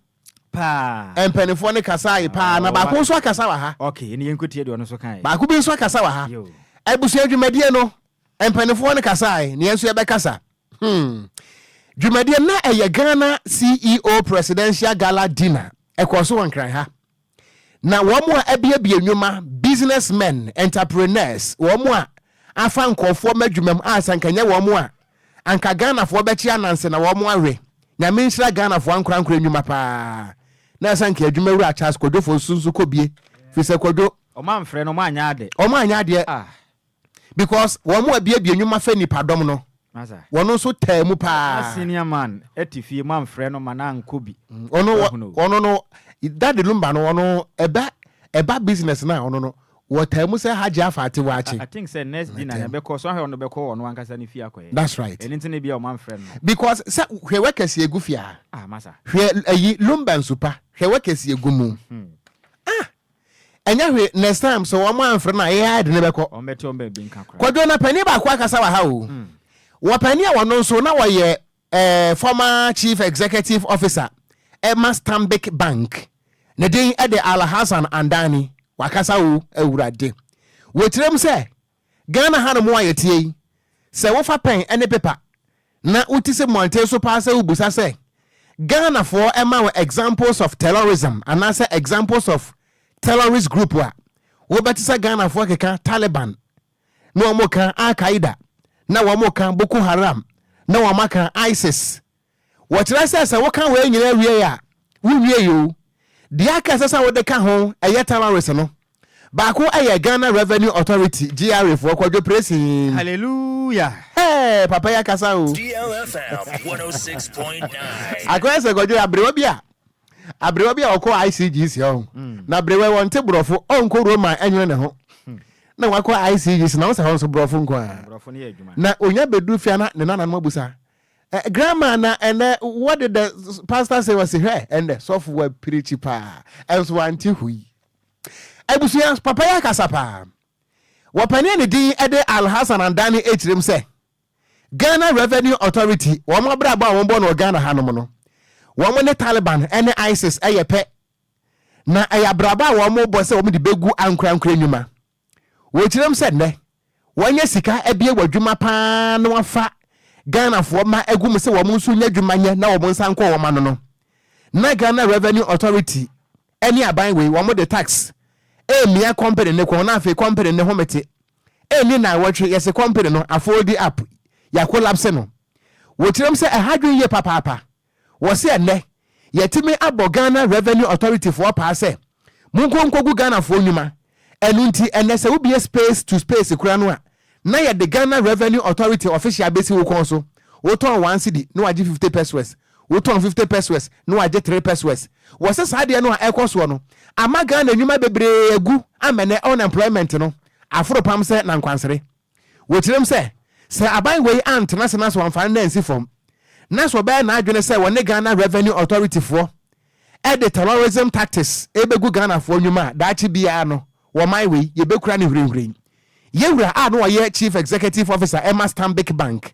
[SPEAKER 1] Paa.
[SPEAKER 3] Mpanimfoɔ no kasaeɛ
[SPEAKER 1] paa, na baako nso akasa wɔ ha. Okay, ɛne yɛn nkotie deɛ ɔno nso
[SPEAKER 3] kaeɛ. Baako bi nso akasa wɔ ha.
[SPEAKER 1] Yo. Abusua dwumadie no, mpanimfoɔ no kasaeɛ, na yɛn nso yɛbɛkasa. Hmm. Dwumadie na ɛyɛ Ghana CEO Presidential Gala Dinner. Ɛkɔɔ so wɔ Nkran ha. Na wɔn a abiabia nnwuma, business men, entrepreneurs, wɔn a afa nkurɔfoɔ ma adwumam a sɛ anka nyɛ wɔn a, anka Ghanafoɔ bɛkye ananse na wɔn awe. Nyame nhyira Ghanafoɔ ankorankoro nnwuma paa. Na sɛ anka adwumawura Charles Kwadwofoɔ nso nso kɔbie, firi sɛ Kwadwo. Wɔn amfrɛ no, wɔn anyɛ
[SPEAKER 3] ade. Wɔn anyɛ adeɛ. Ah!
[SPEAKER 1] because wɔn a abiabia nnwuma fɛ nnipadɔm no wɔn nso
[SPEAKER 3] taa mu
[SPEAKER 1] paa. Na senior man ɛte
[SPEAKER 3] fie mo amfrɛ no ma no ankɔ bi. Ɔno ɔno
[SPEAKER 1] no Daddy Lumba no ɔno ɛbɛ ɛba business no a ɔno no wɔtaa mu sɛ Hajji afa ate waakye. I think sɛ next dinner
[SPEAKER 3] na ɛbɛkɔ so ahwɛ ɔno bɛkɔ ɔno ankasa ne fie akɔyɛ. That's right. Ɛno nti na ebia wɔn
[SPEAKER 1] amfrɛ no.
[SPEAKER 3] Because sɛ hwɛ
[SPEAKER 1] wɛkɛse egu fie a. Ah masa. Hwɛ
[SPEAKER 3] ayi
[SPEAKER 1] Lumba nsupa hwɛ wɛkɛse egu mu. Ah. Ɛnyɛ hwee, next time sɛ wɔn anfrɛ no a yɛn ara yɛde no bɛkɔ. Kwadwo,
[SPEAKER 3] na panin baako akasa
[SPEAKER 1] wɔ ha o. Wɔ panin a ɔno nso na ɔyɛ eh, former chief executive officer ɛma Stanbic Bank. Ne din ɛde Alhassan Andani. Wakasa o, Awurade. Wɔ tirim sɛ Ghana hanom a yɛteɛ yi, sɛ wofa pɛn ne pepa na wote sɛ mmɔnten so paa sɛ wobisa sɛ Ghanafoɔ ma wo examples of terrorism anaasɛ examples of terrorist group a, wobɛte sɛ Ghanafoɔ keka Taliban, na wɔka Al-Qaeda, na wɔka Boko Haram, na wɔaka ISIS, Wɔkyerɛ sɛ sɛ woka wei nyinaa wie a, wunwiei o. Deɛ aka a ɛsɛ sɛ wode ka ho yɛ terrorists no. Baako yɛ Ghana Revenue Authority, GRA, foɔ, Kwadwo Presin. Hallelujah!
[SPEAKER 3] Hey! Papa yi
[SPEAKER 1] akasa o. DL
[SPEAKER 10] FM 106.9. Akɔyɛ sɛ
[SPEAKER 1] Kwadwo yɛ aberewa bi a aberewa bi a ɔkɔ ICGC hɔ na aberewa yi ɔnte borɔfo, ɔnkɔ Roma ɛnwene ne ho na wakɔ ICGC na wo sɛ hɔ nso borɔfo nko ara Borɔfo no yɛ adwuma. na
[SPEAKER 3] ɔnya bɛduru fie a
[SPEAKER 1] na ne nananom abusa Eh, grandma na ɛnɛ what did the pastor say was hwɛ ɛnɛ sɔfo wa pirikyi paa ɛnso wante hui abusua papa yɛ akasa paa wɔpɛne a ne din ɛde alhassan andane akyerɛm sɛ ghana revenue authority wɔn abrabɔ a wɔbɔ no wɔ ghana hanom no wɔn ne taliban ɛne isis ɛyɛ pɛ na ɛyɛ abrabɔ a wɔn bɔ sɛ wɔn de bɛgu ankorankora nnwuma Wɔ kyerɛm sɛ nnɛ wɔanya sika abie wɔ adwuma pa ara na wɔafa Ghanafoɔ mma agu mu sɛ wɔn nso nya adwuma nyɛ na wɔn nsa nkɔ wɔn ano no, na Ghana Revenue Authority ne aban wei wɔde tax remia kɔmpene no kɔn na afei kɔmpene no home te. Ɛnni nnawɔtwe yɛse kɔmpene no afooldi up, yɛakolapse no. Wɔ kyerɛm sɛ ɛha adwene yie papaapa Wɔse ɛnnɛ yɛatumi abɔ Ghana Revenue Authority foɔ paa sɛ monkɔ nkɔgu Ghanafoɔ nnwuma, ɛno nti ɛnnɛ sɛ wobue space to space koraa no a na yɛde Ghana Revenue Authority official bɛsi wo kɔn so, wotɔn one cedi na wagye fifty pesewas, wotɔn fifty pesewas na wagye three pesewas. Wɔse saa adeɛ no a ɛrekɔ soɔ no ama Ghana nnwuma bebree agu ama ɛnnɛ unemployment no aforo pam sɛ nankwansere. Wɔkyerɛm sɛ, sɛ aban wei antena ase na sɛ wɔamfa no no ansi fam, na sɛ ɔbɛyɛ n'adwene sɛ wɔne Ghana Revenue Authority foɔ de terrorism tactics rebɛgu Ghanafoɔ nnwuma a, daakye biara no, wɔ man wei, yɛbɛkura no hwirinhwirin. Yawura a na ɔyɛ Chief Executive Officer ma Stanbic Bank,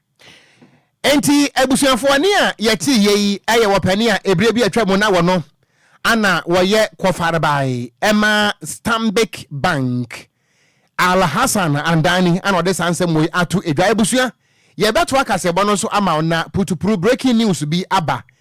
[SPEAKER 1] Enti abusuafoɔ ne a yɛtee yei yɛ wɔpɛne a ɛberɛ bi atwa mu na wɔno ana wɔyɛ kɔfarebae ɛma Stanbic Bank. Al Hassan Andani ana ɔde saa nsɛm wei ato edwa. Abusua, yɛbɛtoa kaseɛbɔ no so ama wo na putupru breaking news bi aba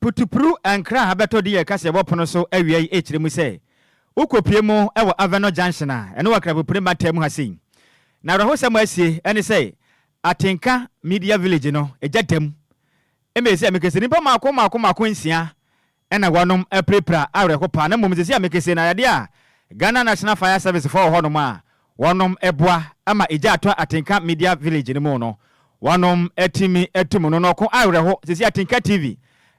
[SPEAKER 3] Putupru nkra a abɛtɔ din a ɛka sɛ Ɛwɔ Pono So Awia Yi rekyerɛ mu sɛ wokopue mu wɔ Avenor Junction a ɛne Wakrafo Pire mantam mu ha sei. Na awerɛhosɛm a asie ne sɛ Atenka Media Village no, egya da mu. Ɛma yɛsɛ a mekasa nnipa mmaako mmaako mmaako nsia Ɛna wɔnom apirapira awerɛho paa na mmom sɛsi a mekese no ayɛdeɛ a Ghana National Fire Service foɔ wɔ hɔnom a wɔnom boa ma egya atɔ Atenka Media Village no mu no wɔnom atumi atum no na ɔko awerɛho sɛsi Atenka TV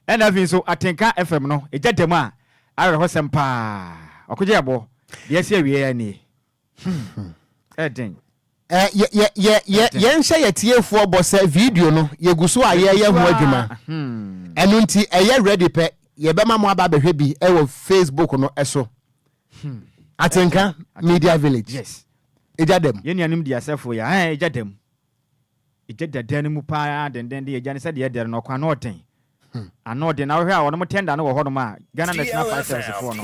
[SPEAKER 3] ɛna afei nso Atenka FM no egya da mu a awerɛhosɛm paa ɔko gye yɛbo deɛ asi awieɛ nie. Ɛden.
[SPEAKER 1] Yɛnhyɛ yɛ tiefoɔ bɔ sɛ video no yɛgu so a yɛyɛ ho adwuma hmm. ɛno nti ɛyɛ ready pɛ yɛbɛma mo aba bɛhwɛ bi ɛwɔ facebook no ɛso hmm. atenka media village ɛgya
[SPEAKER 3] dɛm yɛnuanom
[SPEAKER 1] di asɛfo
[SPEAKER 3] yɛ ɛgya dɛm Egya dɛdɛr no mu paa dendenden yɛ egya no sɛdeɛ ɛdɛr no ɔkwan no ɔden ano ɔden na wohwɛ a wɔnom tɛnda no wɔ hɔ nom a Ghana National Fire Service foɔ no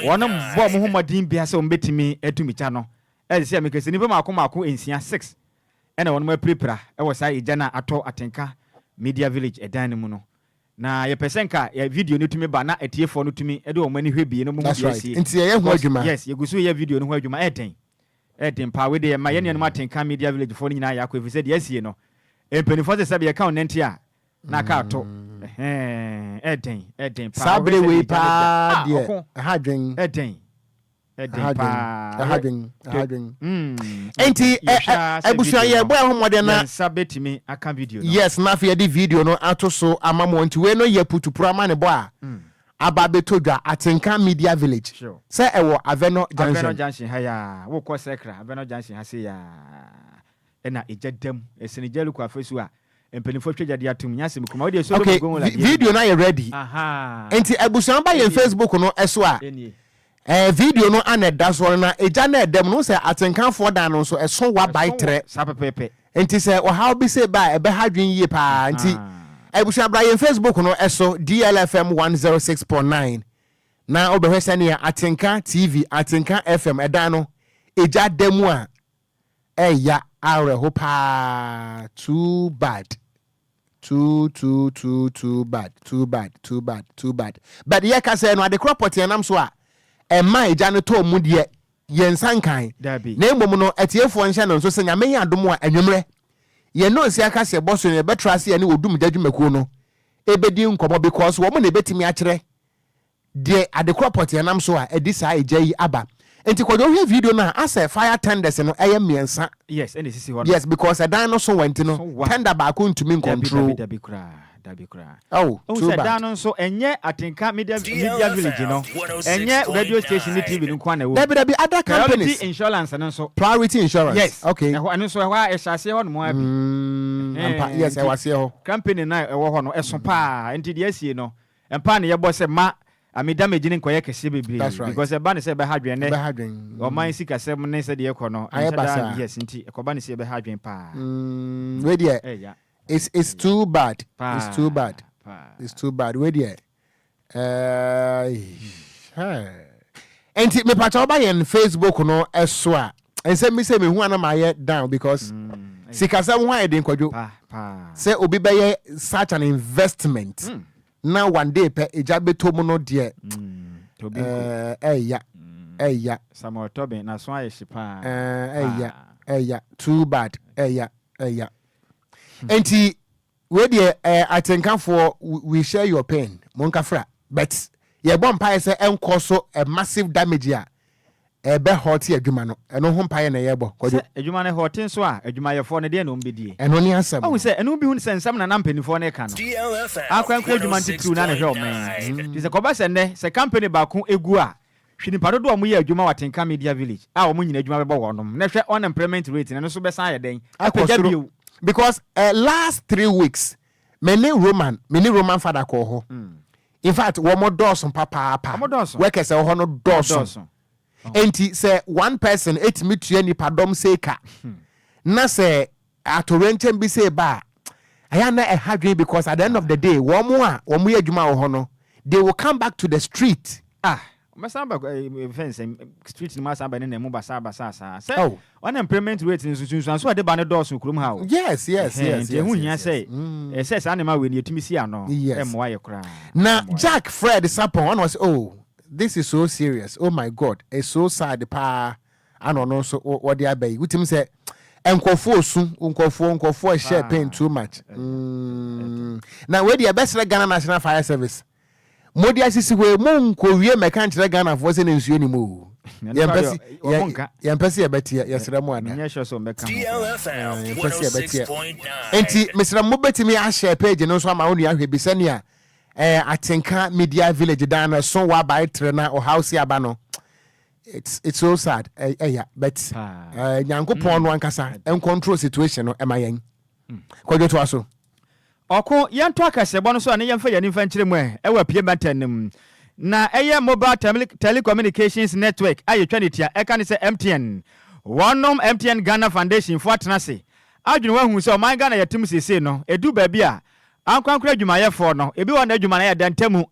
[SPEAKER 3] wɔnom bɔ wɔn ho mmɔden biaa sɛ wɔn bɛtumi atumi kya no ɛde sɛ meka sɛ nipa maako maako nsia six ɛna wɔnom apirapira ɛwɔ saa egya no a atɔ Atenka Media Village ɛdan no mu no na yɛpɛ sɛ nka yɛ video no tumi ba na atiefoɔ no tumi ɛde wɔn ani hwɛ bie no mo mu bia sie nti yɛyɛ ho
[SPEAKER 1] adwuma yes yɛgu so yɛ video no
[SPEAKER 3] ho adwuma ɛdɛn Ɛyɛ den paa, wei deɛ ma yɛn nuanom atenka media village foɔ no nyinaa yɛ akɔ ɛfiri sɛ deɛ asie no mpaninfoɔ se sɛbi yɛka wo nanti a na aka ato ɛhɛɛn ɛyɛ den ɛyɛ den paa saa bere wei paa
[SPEAKER 1] deɛ ɛha adwen ɛyɛ den ɛyɛ
[SPEAKER 3] den paa ɛha adwen ɛha adwen
[SPEAKER 1] ɛnti abusua yɛ bɔ ɛho mmɔden na yɛn nsa bɛtumi aka
[SPEAKER 3] video no yes na afei yɛde video
[SPEAKER 1] no ato so ama mo nti wei no yɛ putupura ama ne bɔ a Aba abɛtɔ dwa Atenka Media Village sɛ ɛwɔ Avɛnɔ Junction. Avɛnɔ Junction ha yi a
[SPEAKER 3] wokɔ Sɛkra Avɛnɔ Junction ha sei a ɛna egya da mu. Ɛsene Jɛriko afasuo a mpaninfoɔ atwa gya de atom. Nyase me kuma wodeɛ Solomon Gongo ladeɛ no bi. Okay video no ayɛ
[SPEAKER 1] ready. Ahaa. Nti abusua ba yɛn Facebook no so a. Ɛnie. Ɛɛ video no ana ɛda soɔ no na egya no ɛda mu no wohu sɛ atenkanfoɔ dan no nso ɛso wa bae trɛ Saa pɛpɛɛpɛ. nti
[SPEAKER 3] sɛ ɔhaw
[SPEAKER 1] bi sei ba a ɛbɛha adwene yie paa nti Ahaa. abusua bra yɛn Facebook no ɛso DLFM one zero six point nine na wobɛhwɛ sɛnea Atenka TV Atenka FM ɛdan no egya da mu a ɛya awerɛho paa too bad too too too too bad too bad too bad too bad but yɛ ka sɛ no adekorɔ pɔtee nam so a ɛma egya no tɔɔ mu deɛ yɛn nsa nkan na mmom no atiefoɔ nhyɛ no nso sɛ nyame yɛ adom a anwummerɛ yɛn ne ɔsi aka sɛ bɔ so no yɛbɛtra ase yɛne odum gya dwumakuo no ɛbɛdi nkɔmmɔ because wɔn na ɛbɛtumi akyerɛ Deɛ adekora pɔtee nam so a ɛde saa egya yi aba nti kwadwo hwɛ video no a asɛ fire tenders no ɛyɛ mmiɛnsa Yes ɛna esisi hɔ no.
[SPEAKER 3] yes because ɛdan no so wa
[SPEAKER 1] nti no So wa. tender baako ntumi Dabi dabi ncontrol dabi koraa dabi
[SPEAKER 3] koraa. oh Wohu too sɛ dan bad. no
[SPEAKER 1] nso
[SPEAKER 3] ɛnyɛ Atenka Media Media Village no ɛnyɛ radio station ne TV no nko ara na ɛwɔ mu. Dabi dabi other Priority
[SPEAKER 1] companies Insurance no nso.
[SPEAKER 3] Priority Insurance Yes.
[SPEAKER 1] okay Ɛhɔ ɛno nso
[SPEAKER 3] ɛhɔ a
[SPEAKER 1] ɛhyɛ
[SPEAKER 3] aseɛ hɔ nom ara bi. mm, ampa Ɛhɛn, yes nti- ɛwɔ aseɛ hɔ.
[SPEAKER 1] Company no a ɛwɔ hɔ
[SPEAKER 3] no ɛso paa nti deɛ asie no Mpae na yɛbɔ sɛ ma ame damage no nkɔyɛ kɛseɛ bebree because ɛba no sɛ ɛbɛha adwen nɛ ɔman sikasɛm ne sɛdeɛ ɛkɔ no anhyɛ da ne years nti ɛkɔba no sɛ ɛbɛha adwen paa wei
[SPEAKER 1] deɛ it's too bad it's too bad it's too bad wei deɛ ɛɛɛ nti mepakyɛ woba yɛn facebook no ɛso a ɛnsɛ mi sɛ mehu ana mayɛ down because sikasɛm ho ayɛ den kwadwo sɛ obi bɛyɛ such an investment mm. na one day pɛ egya bɛtɔ mu no deɛ ɛya ɛya
[SPEAKER 3] ɛya
[SPEAKER 1] ɛya too bad ɛya ɛya nti Wei deɛ ɛɛ atenkafoɔ we share your pain monka fra but yɛbɔ mpaeɛ sɛ ɛnkɔ so ɛ massive damage a ɛbɛ hurte adwuma no ɛno ho mpaeɛ na yɛbɔ kwadwo. Sɛ adwuma no hurte nso
[SPEAKER 3] a adwumayɛfoɔ no deɛn na wɔn bɛdie? Ɛno ne asɛm no. Wahu sɛ
[SPEAKER 1] ɛno bi hu sɛ
[SPEAKER 3] nsɛm na na mpaninfoɔ no reka no akorankora adwuma no titiriw na na ɛhwɛ ɔman yi nti sɛ kɔba sɛ nnɛ sɛ company baako gu a Hwɛ nipa dodoɔ a ɔmo yɛ adwuma wɔ atenka media village a ɔmo nyina adwuma bɛbɔ wɔnom na hwɛ unemployment rate no ɛno nso bɛsan ayɛ dɛn apagya bio. Because eh
[SPEAKER 1] last three weeks me ne Roman me ne Roman father kɔɔ hɔ infact wɔmɔ dɔɔso papaapa workers ɛwɔ hɔ no dɔɔso ɛnti sɛ one person ɛtumi tua nipa dɔm sei ka na sɛ Atoyerɛnkyɛm bi sei ba a, ɛyɛ a na ɛha dwene because at the end of the day, wɔn a wɔyɛ adwuma wɔ hɔ no, they will come back to the street. Ah! Wɔbɛsan aba
[SPEAKER 3] yɛfrɛ no sɛn, street no mu asan abɛnenam mu basaa basaa saa. Sɛ Oh! unemployment rate no, nsunsuanso a ɛde ba no dɔɔso wɔ kurom ha o. Yes, yes, yes, Ɛhɛn, yes, nti
[SPEAKER 1] ɛho yes, hia yes.
[SPEAKER 3] sɛ Mm. ɛɛ, sɛ saa nneɛma wei no yɛtumi si ano, Yes. ɛmmoa yɛ koraa. Na Ɛmmoa yɛ. Jack
[SPEAKER 1] Fred Sapon, ɔna ɔse, oh, this is so serious, oh my God, it's so sad paa. a na ɔno nso wɔde aba yi wotim sɛ nkurɔfoɔ osu nkurɔfoɔ nkurɔfoɔ ɛhyɛ pain too much mm. na wei deɛ ɛbɛsrɛ Ghana National Fire Service mo de asisi hɔ mo nkɔwie mɛka nkyerɛ Ghanafoɔ sɛ na nsuo ni mu o yɛmpɛ sɛ yɛbɛteɛ yɛsrɛ mo ada yɛmpɛ
[SPEAKER 10] sɛ yɛbɛteɛ enti mesrɛ
[SPEAKER 1] mo bɛtumi ahyɛ page no nso ama wo nua hwɛ bi sɛnea eh, atenka media village dan no ɛso wɔ abae tere na ɔhaw si aba no It's it's so sad. Ɛya but Nyankopɔn no ankasa ɛncontrol situation no ɛma yɛn. Kɔdwo to aso. Ɔko
[SPEAKER 3] yɛntɔ akɛsebɔ no so a ne yɛmfa yɛn ani mfa nkyerɛ mu ɛ ɛwɔ apue mantam no mu. Na ɛyɛ mobile tele telecommunications network a yɛtwa no tia ɛka ne sɛ MTN. Wɔnom MTN Ghana Foundation fo atena ase adwene ho ahu sɛ ɔman Ghana yɛte mu seesei no ɛduru baabi a ankorankoro adwumayɛfoɔ no ebi wɔ hɔ na adwuma no ayɛ dɛ ntɛmu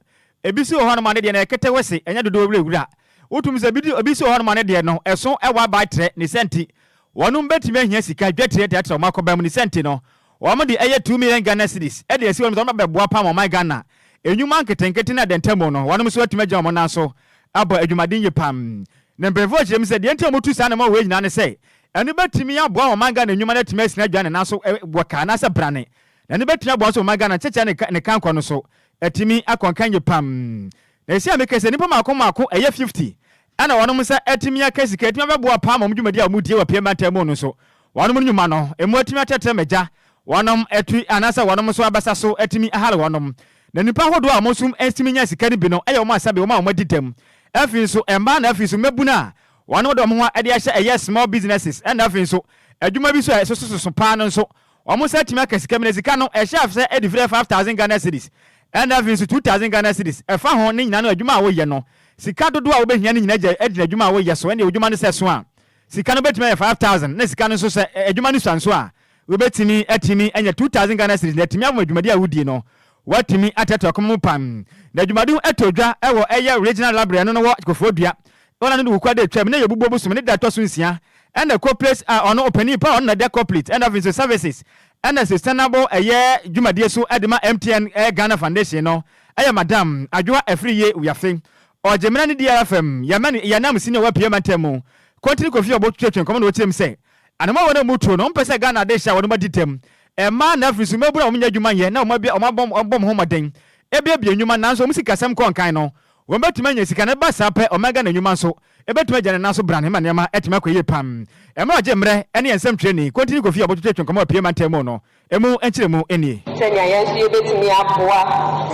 [SPEAKER 3] Ebi si wɔ hɔnom a ne deɛ no yɛ ketewe se ɛnyɛ dodoɔ wurawura. Wotumi sɛ ebi ebi si wɔ hɔnom a ne deɛ no ɛso wɔ abaetrɛ, ne sɛ nti wɔnom bɛtumi ahia sika dwatire de atra wɔn akɔba mu, ne sɛ nti no wɔnom de ɛyɛ two million Ghana cedis de asi hɔnom sɛ wɔnom abɛboa pam ɔman Ghana nnwuma nketenkete ne adɛntamu no wɔnom nso atumi agyina wɔn nan so abɔ adwumaden yie pam. Ne mpanyinfoɔ kyerɛ mu sɛ deɛ nti a wɔtu saa anammɔn wei nyinaa ne sɛ ɛno bɛtumi aboa wɔn ɔman Ghana nnwuma no atumi asina adwane nanso wɔ ka anaasɛ brane na ɛno bɛtumi aboa nso wɔn ɔman Ghana nkyɛkyɛ ne ne kankɔ no so Atumi akɔ nkankyee pam na ɛsɛ a me kɛ sɛ nipa maako maako ɛyɛ fifty ɛna wɔnom nsa atumi aka sika atumi abɛboa paa ma wɔn dwumadi a wɔn die wɔ pie mantam mu no so wɔnom no nwuma no ɛmu atumi atrɛtrɛ ma gya wɔnom ɛtu anaasɛ wɔnom nso abasa so atumi ahare wɔnom na nipa ahodoɔ a wɔn nso atumi nya sika no bi no ɛyɛ wɔn asabe wɔn a wɔn adi dɛm afei nso ɛmaa na afei nso mmabunu a wɔnom de wɔn ho ɛde ahyɛ ɛyɛ small businesses ɛna afei nso adwuma bi nso a ɛsoso soso paa no nso Wɔn nsa atumi aka sika bi, na sika no, ɛhyɛ afesɛ ɛde firi five thousand Ghana cedis, ɛna afei nso two thousand Ghana cedis, ɛfa ho ne nyinaa no adwuma a woyɛ no. Sika dodoɔ a wobɛhia no nyinaa gya gyina adwuma a woyɛ so, ɛnneɛ wo dwuma no sɛ ɛso a, sika no bɛtumi ayɛ five thousand, na sika no nso sɛ adwuma no sua nso a, wobɛtumi atumi anya two thousand Ghana cedis, na atumi aboa dwumadie a wodie no Wɔatumi atɛ tɔkmɔ mu pan, na dwumadi ho ɛtɔ dwa wɔ ɛyɛ Regional Library no no wɔ Kofoɔ Dua. Ɔna no de Wuku ade atwam na ɛyɛ Obubuo bosom ne da a ɛtɔ so nsia. Ɛna Coplates a ɔno ɔpanin paa ɔno na ɛda Coplate ɛna afei nso Services ɛna Sustainable ɛyɛ dwumadie so ɛde ma MTN ɛyɛ Ghana Foundation no ɛyɛ Madam Adwoa Afriyie Wiafe. Ɔgye mmena ne di ara fam. Yɛma no yɛn nam Senior wɔ Apueɛ Mantam mu. Kontini Kofi Ɔbo twetwe nkɔmɔ na ɔkyerɛ mu sɛ, Anamɔn a wɔn a wɔn mu tuo no, wɔn mpɛ sɛ Ghana ade hyɛ wɔn mu adi dɛm. Mmaa na afiri so, mmabunu a wɔnnya adwuma nyɛ na wɔabɔ wɔn ho mmɔden abuebue nnwuma nanso wɔn sikasɛm kɔ nkan no, wɔbɛtumi anya sika na ɛba saa pɛ ɔman Ghana nnwuma nso bɛtumi agyina ne nan so brane ma nneɛma atumi akɔ yie pam. Mmerɛ ɔgye mmerɛ ne yɛn nsɛmtwerɛni, Kontini Kofi a ɔbɛtwetwe yɛn nkɔmmɔ a ɛpue mantam mu no mu nkyerɛmu nie. Sɛnea yɛn nso yɛbɛtumi
[SPEAKER 11] aboa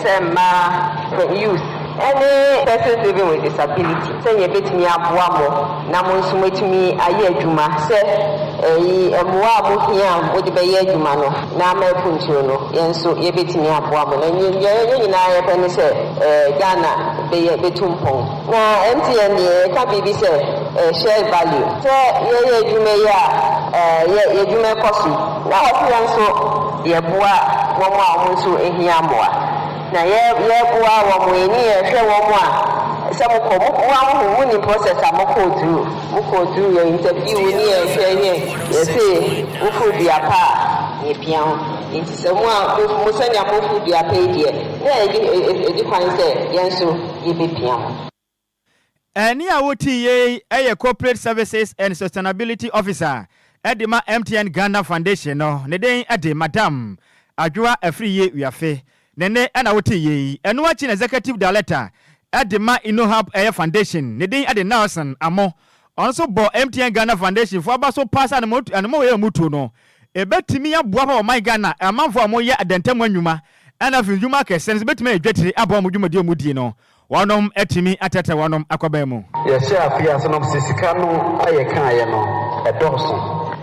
[SPEAKER 11] sɛ mmaa, youth, Ɛne Person Living with Disability, Sɛnea Yebetumi Aboa Mo na Mo Nso Moatumi Ayɛ Adwuma, Sɛ eyi mmoa a muhia a mode bɛyɛ adwuma no na ama apunturu no, yɛn nso yebetumi aboa mo. Na nea yɛn nyinaa yɛpɛ ne sɛ Ghana bɛyɛ betu mpɔn. Na MTN deɛ yɛka biribi sɛ Shared Value. Sɛ yɛyɛ adwuma yi a, yɛ yɛn adwuma kɔ so. Na wɔse yɛn nso yɛboa wɔn a wɔn nso hia mmoa. Na yɛ yɛ boa wɔn mo ani yɛ hwɛ wɔn mo a sɛ mo kɔ mo boa mo ho mo nim process a mo kɔɔ duru mo kɔɔ duru yɛ interview wo ni yɛ hwɛ yɛ yɛ se wo foro dua pa a yɛ pia ho nti sɛ mo a mo mo sɛnea mo foro dua pa yi deɛ na yɛ di yɛ di kwan sɛ yɛn nso yɛ bɛ pia mo. Ɛnne
[SPEAKER 3] a wotii yei yɛ Corporate Services and Sustainability Officer de ma MTN Ghana Foundation no, ne den de Madam Adwoa Afriyie Wiafe. Ne nne na wotee yei. Ɛno akyi na Executive Director de ma Innohub Foundation, ne den de Nelson Amoh. Ɔno nso bɔ MTN Ghana Foundation fo aba so paa sɛ anamɔwei a wɔtu no, ɛbɛtumi aboa ma ɔman Ghana amanfoɔ a wɔyɛ adantamu anwuma ɛna afidwuma akɛseɛ no nso bɛtumi ayɛ dwatire aba wɔn dwumadie a wɔdi no Wɔnom atumi atɛtɛ wɔnom akɔbɛn mu. Yɛhyɛ afe ase
[SPEAKER 12] nom sɛ sika no a yɛkaeɛ no ɛdɔɔso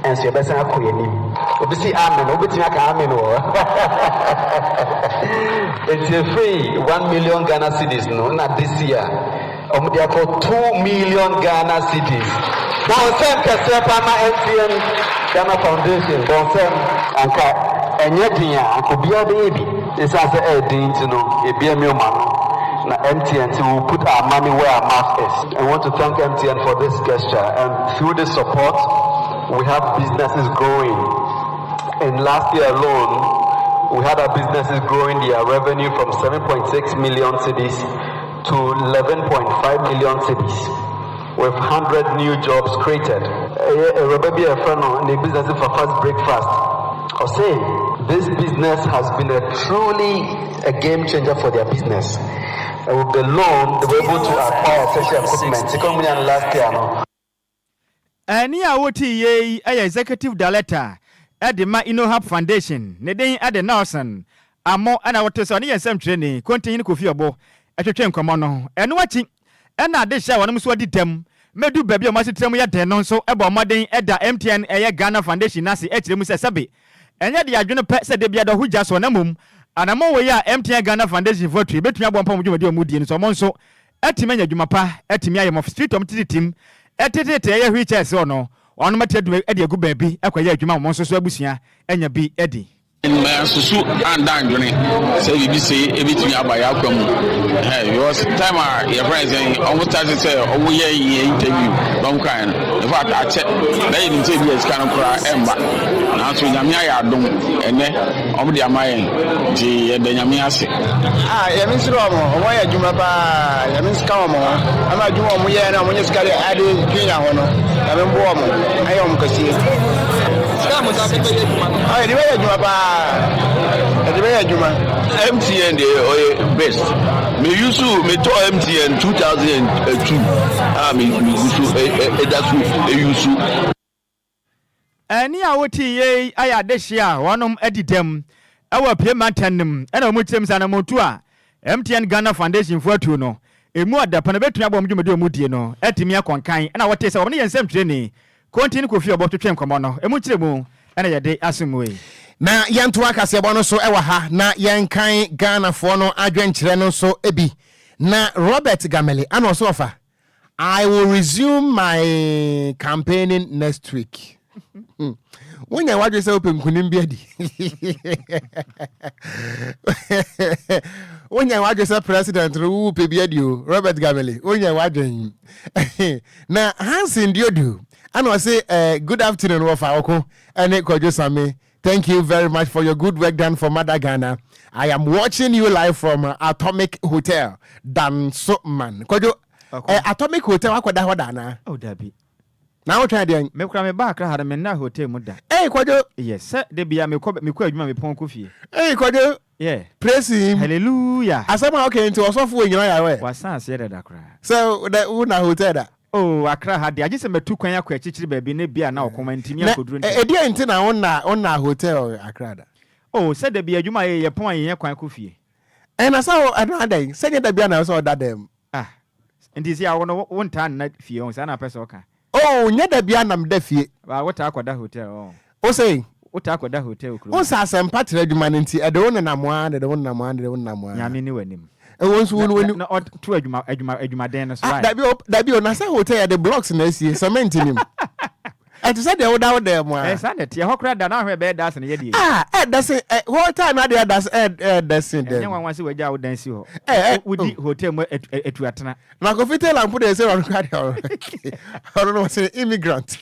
[SPEAKER 12] nso yɛbɛsan akɔ yɛn anim. Obi se amen wobɛtumi aka amen wɔ hɔ Enti ɛfiri one million Ghana cedis no na this year wɔn de akɔ two million Ghana cedis Bɔ nsɛm kɛseɛ paa ma MTN Ghana Foundation Bɔ nsɛm. Anka ɛnyɛ den a anka obiara bɛyɛ bi. Esiane sɛ ɛyɛ den nti no, yɛbue Meom ano, na MTN se we'll put our money where our mouth is. I want to thank MTN for this gesture and through this support we have businesses growing and last year alone we had our businesses growing their revenue from seven point six million cedis to eleven point five million cedis. With hundred new jobs created. Ɛyɛ awuraba bi a yɛfrɛ no ne business fa Fast Breakfast. Ɔse this business has been a truly a game changer for their business. With the loan they were able to acquire tertiary equipment sika wɔn nyaa no last year no.
[SPEAKER 3] Ɛnne a wotii yɛ yi yɛ Executive Director de ma Innohub Foundation. Ne din de Nelson Amoh na wote sɛ ɔne yɛn nsɛmtwerɛni, Kontihene Kofi Ɔbo, twetwe nkɔmmɔ no. Ɛno akyi Ɛna ade hyɛ wɔnom so adi dɛm ma ɛdu baabi a wɔn asetram yɛ den no nso bɔ mmɔden da MTN ɛyɛ Ghana Foundation no ase kyerɛ mu sɛ sɛbe ɛnyɛ de adwene pɛ sɛ da biara da hɔ gya soɔ na mmom anammɔn wei a MTN Ghana Foundation foɔ tue bɛtumi aboa mpo wɔn dwumadi a wɔn redie no so wɔn nso atumi anya adwuma pa atumi ayɛ mɔf street wɔn tete tim tetete ɛyɛ wheelchair so no wɔnom atumi de agu baabi akɔyɛ adwuma wɔn nso so abusua anya bi adi. Mansusu
[SPEAKER 13] annda anndwene sɛ biribi sei ɛbɛtumi aba yɛ akwan mu ɛhɛɛ because time a yɛfrɛ no sɛn ɔmo starte sɛ ɔmo yɛ yɛ interview na ɔmo kaeɛ no in fact akyɛ na yɛnim sɛ ebia sika no koraa ɛmma nanso Nyame ayɛ adom ɛnnɛ ɔmo de ama yɛn nti yɛda Nyame ase. Ah Nyame
[SPEAKER 14] nhyira ɔmo, ɔmo ayɛ adwuma paa Nyame nka ɔmo ho ɛma adwuma a ɔmo yɛ no a ɔmo nya sika de ade junior ho no Nyame mboa ɔmo ɛnyɛ ɔmo kɛseɛ. Dɛn mo nsa bɛyɛ
[SPEAKER 13] adwuma no. Ɔ yɛde bɛyɛ adwuma paa yɛde bɛyɛ adwuma. MTN deɛ ɔyɛ best me use me tɔ MTN two thousand and two a me me gu so ɛda so use.
[SPEAKER 3] Ɛne a wote yie yi ayɛ adehyeɛ a wɔnom adi dɛm wɔ Apue mantam no mu ɛna wɔn kyerɛ mu sɛ anammɔntuo a MTN Ghana Foundation foɔ atuo no ɛmu adapɛn no bɛtumi aboa wɔn dwumadi a wɔdie no atumi akɔ nkan ɛna wɔte sɛ wɔn ne yɛn nsɛmtwerɛni Konti ne Kofi Ɔbɔ twetwe nkɔmmɔ no. Emu nkyerɛmu na yɛde asommue. Na yɛntoa
[SPEAKER 1] kaseɛbɔ no so wɔ ha na yɛnkan Ghanafoɔ no adwenkyerɛ no nso bi. Na Robert Gamele ana ɔse ɔfa I will resume my campaigning next week. Wonya w'adwene sɛ wopɛ nkunim bi adi. Wonya w'adwene sɛ president no wopɛ bi adi o. Robert Gamele, wonya w'adwene. Na Hansen deɛ odu ɛna ɔse eh, good afternoon wɔfa ɔko ɛne Kwadwo Same thank you very much for your good work done for mother Ghana I am watching you live from Atomic Hotel Dansoman Kwadwo Ɔko. eh, Atomic Hotel akɔda hɔ da anaa Oh, dabi.
[SPEAKER 3] na wotwɛn
[SPEAKER 1] deɛn Me kura me ba akra ha no me
[SPEAKER 3] nna hotel mu da. eh Kwadwo Yes,
[SPEAKER 1] sɛ da bia
[SPEAKER 3] mekɔ mekɔ adwuma mepɔn kɔ fie. eh Kwadwo
[SPEAKER 1] Yeah. Praise him. Hallelujah. Asɛm
[SPEAKER 3] a ɔka yi nti
[SPEAKER 1] ɔsɔfo onyina yare ɛ. Wasan aseɛ dada koraa.
[SPEAKER 3] Sɛ dɛ wo na
[SPEAKER 1] hotel da. Oh Accra ha deɛ
[SPEAKER 3] agye sɛ matu kwan akɔ akyikyiri baabi na ebia na ɔkɔm antumi ankɔduru ntɛm. Na ɛdeɛn nti na wonna
[SPEAKER 1] wonna hotel Accra da? Oh sɛ da biara
[SPEAKER 3] adwuma a yɛyɛ yɛpɔn a yɛnya kwan kɔ fie. Ɛna sɛ wo
[SPEAKER 1] ɛna adɛn sɛ nyɛ da biara na ɛwɔ sɛ ɔda dɛm. Ah
[SPEAKER 3] nti sia wo no wo ntaa nna fie ɔho saa na wopɛ sɛ ɔka. Oh nyɛ da biaa
[SPEAKER 1] na meda fie. Ba wo taa kɔ da hotel
[SPEAKER 3] ɔho. Wo se? Wo
[SPEAKER 1] taa kɔ da hotel
[SPEAKER 3] kurom ha. Wo se asɛmpa tra adwuma
[SPEAKER 1] no nti ɛde wo nenam aa na ɛde wo nenam aa na ɛde wo nenam aa. Nyame ni w'anim.
[SPEAKER 3] Ɛwɔ nso wo ni w'anim.
[SPEAKER 1] Na ɔd to adwuma adwuma
[SPEAKER 3] adwumaden no so wai. Ah dabi o dabi o na sɛ
[SPEAKER 1] hotel yɛde blocks na asie cement nim. ɛte sɛ deɛ woda wo dan mu a. Ɛɛ saa na ɛteɛ hɔ koraa da
[SPEAKER 3] na ahwɛ ɛbɛyɛ dasen yɛ deɛ. Ah ɛɛ dasen ɛ
[SPEAKER 1] hotel na deɛ ɛdas ɛɛ ɛɛ dasen dɛm. Ɛnyɛ nwanwa sɛ wagya wo dan si
[SPEAKER 3] hɔ. Ɛɛ ɛɛ wodi hotel mu atu atu atena. Na kofi tailor mpo
[SPEAKER 1] deɛ sɛ ɔno koraa deɛ ɔno ɔno no ɔsɛ immigrant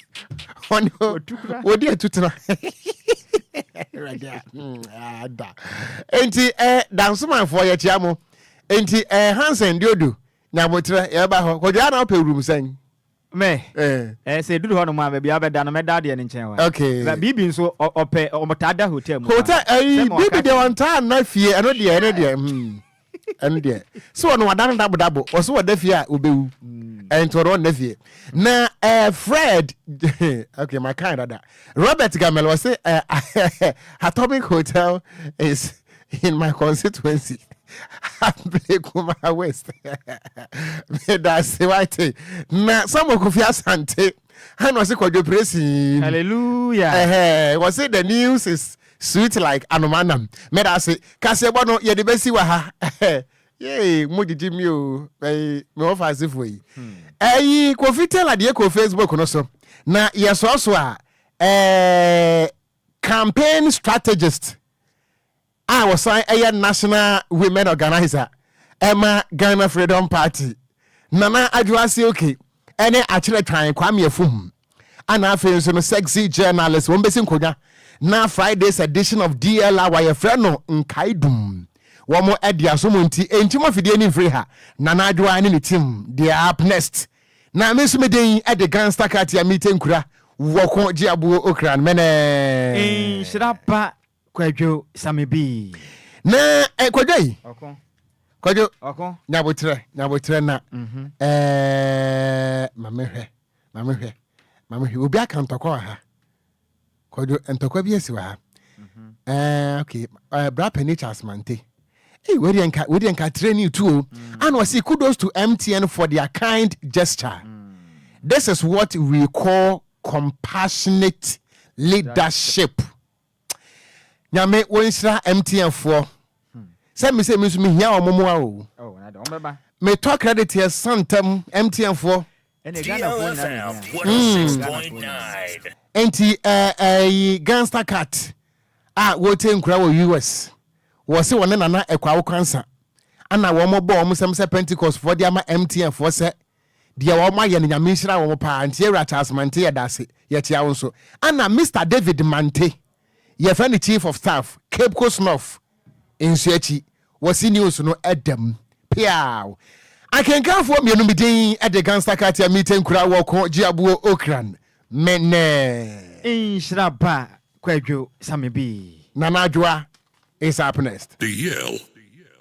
[SPEAKER 1] ɔno wodi atu tena. Ada nti ɛɛ dansomanfoɔ yɛ kyia mo nti ɛɛ Hansen Diodu nyabotrɛ yɛba hɔ kɔdua na ɔpɛ wurum sɛn. Me,
[SPEAKER 3] eh, sɛ ɛduru hɔnom a, baabi a wobɛda no, mɛda adeɛ no nkyɛn wa. Okay. Na Bibi nso,
[SPEAKER 1] ɔ,
[SPEAKER 3] ɔpɛ, wɔtaa da hotel mu paa. Hotel, Sɛ ɛyi, ma Bibi wɔka deɛ
[SPEAKER 1] kyerɛ no. ɔntaa nna fie, ɛno deɛ, ɛno deɛ, hmm, ɛno deɛ. So ɔno wada no dabodabo, ɔso ɔda fie a, ɔbɛwu. Ɛnti ɔno ɔnna fie. Na eh, Fred, okay, my kind dada. Robert Gamel, ɔse eh, Atomic Hotel is. in my constituency abele kuma west medase wate na samuel kofi asante ɛna ɔse kwadwo presin hallelujah ɛhɛ
[SPEAKER 3] wɔse the news
[SPEAKER 1] is sweet like anomanam medase kaseɛbɔ no yɛde bɛsi wɔ ha yee mo gyegye mi o ɛyi me wɔ fa asefo yi ɛyi kofi tela deɛ kɔ facebook no so na yɛsɔɔso a ɛɛ Campaign strategist a ɔsan yɛ National Women Organiser ma Ghana Freedom Party, Nana Adwo Asioke ne Akyerɛtwan Kwame Afum, ɛna afei nso no Sexy Journalist, wɔn bɛsi nkonnwa na Friday's edition of DLR a yɛfrɛ no Nkaedum, wɔn de asom nti, ɛnti mo afidie ani mfiri ha, Nana Adwoa ne ne team, deɛ up next? Na me nso me den de gangsta kratea mite nkura wɔ ko gye aboɔ okran mɛnɛɛ. Nhyira pa
[SPEAKER 3] kwadwo same bii. Na eh
[SPEAKER 1] kwadwo yi Ɔko kwadwo ɔko. nyabotrɛ nyabotrɛ na eh ma me hwɛ ma me hwɛ ma me hwɛ obi aka ntɔkwa wɔ ha. Kwadwo, ntɔkwa bi asi wɔ ha. Ɛɛ, okay. Ɛɛ, Bra Panyin Charles Mante. Hey, wei deɛ nka, wei deɛ nka training too. Mm. And wɔsi kudos to MTN for their kind gesture. Mm. This is what we call compassionate leadership. Nyame wɔnhyira MTN foɔ. Hmm. Sɛ mi sɛ mi nso mi hia wɔn mu a o. Oh, Metɔ credit yɛ santam MTN foɔ.
[SPEAKER 10] Nti
[SPEAKER 1] ɛyi gangster cat a wɔte nkura wɔ US wɔ se wɔne nana ɛkɔ awokwansa ana wɔn bɔ wɔn sɛm sɛ Pentecost foɔ de ama MTN foɔ sɛ deɛ wɔn ayɛ no nyame nhyira wɔn paa nti yɛwura Charles Mante yɛda ase yɛkyia wo nso ana Mr David Mante yɛfɛ ne chief of staff Cape Coast North nso akyi wɔ CNews no da mu peaw. Akenkanfoɔ mmienu bi din de Gangsta Kartel Mite Nkura wɔ ko Gyeabuo Okran Mene. Nhyira ba
[SPEAKER 3] Kwadwo
[SPEAKER 1] Samebii. Nana Adwoa is
[SPEAKER 10] up next.
[SPEAKER 3] The
[SPEAKER 1] Yale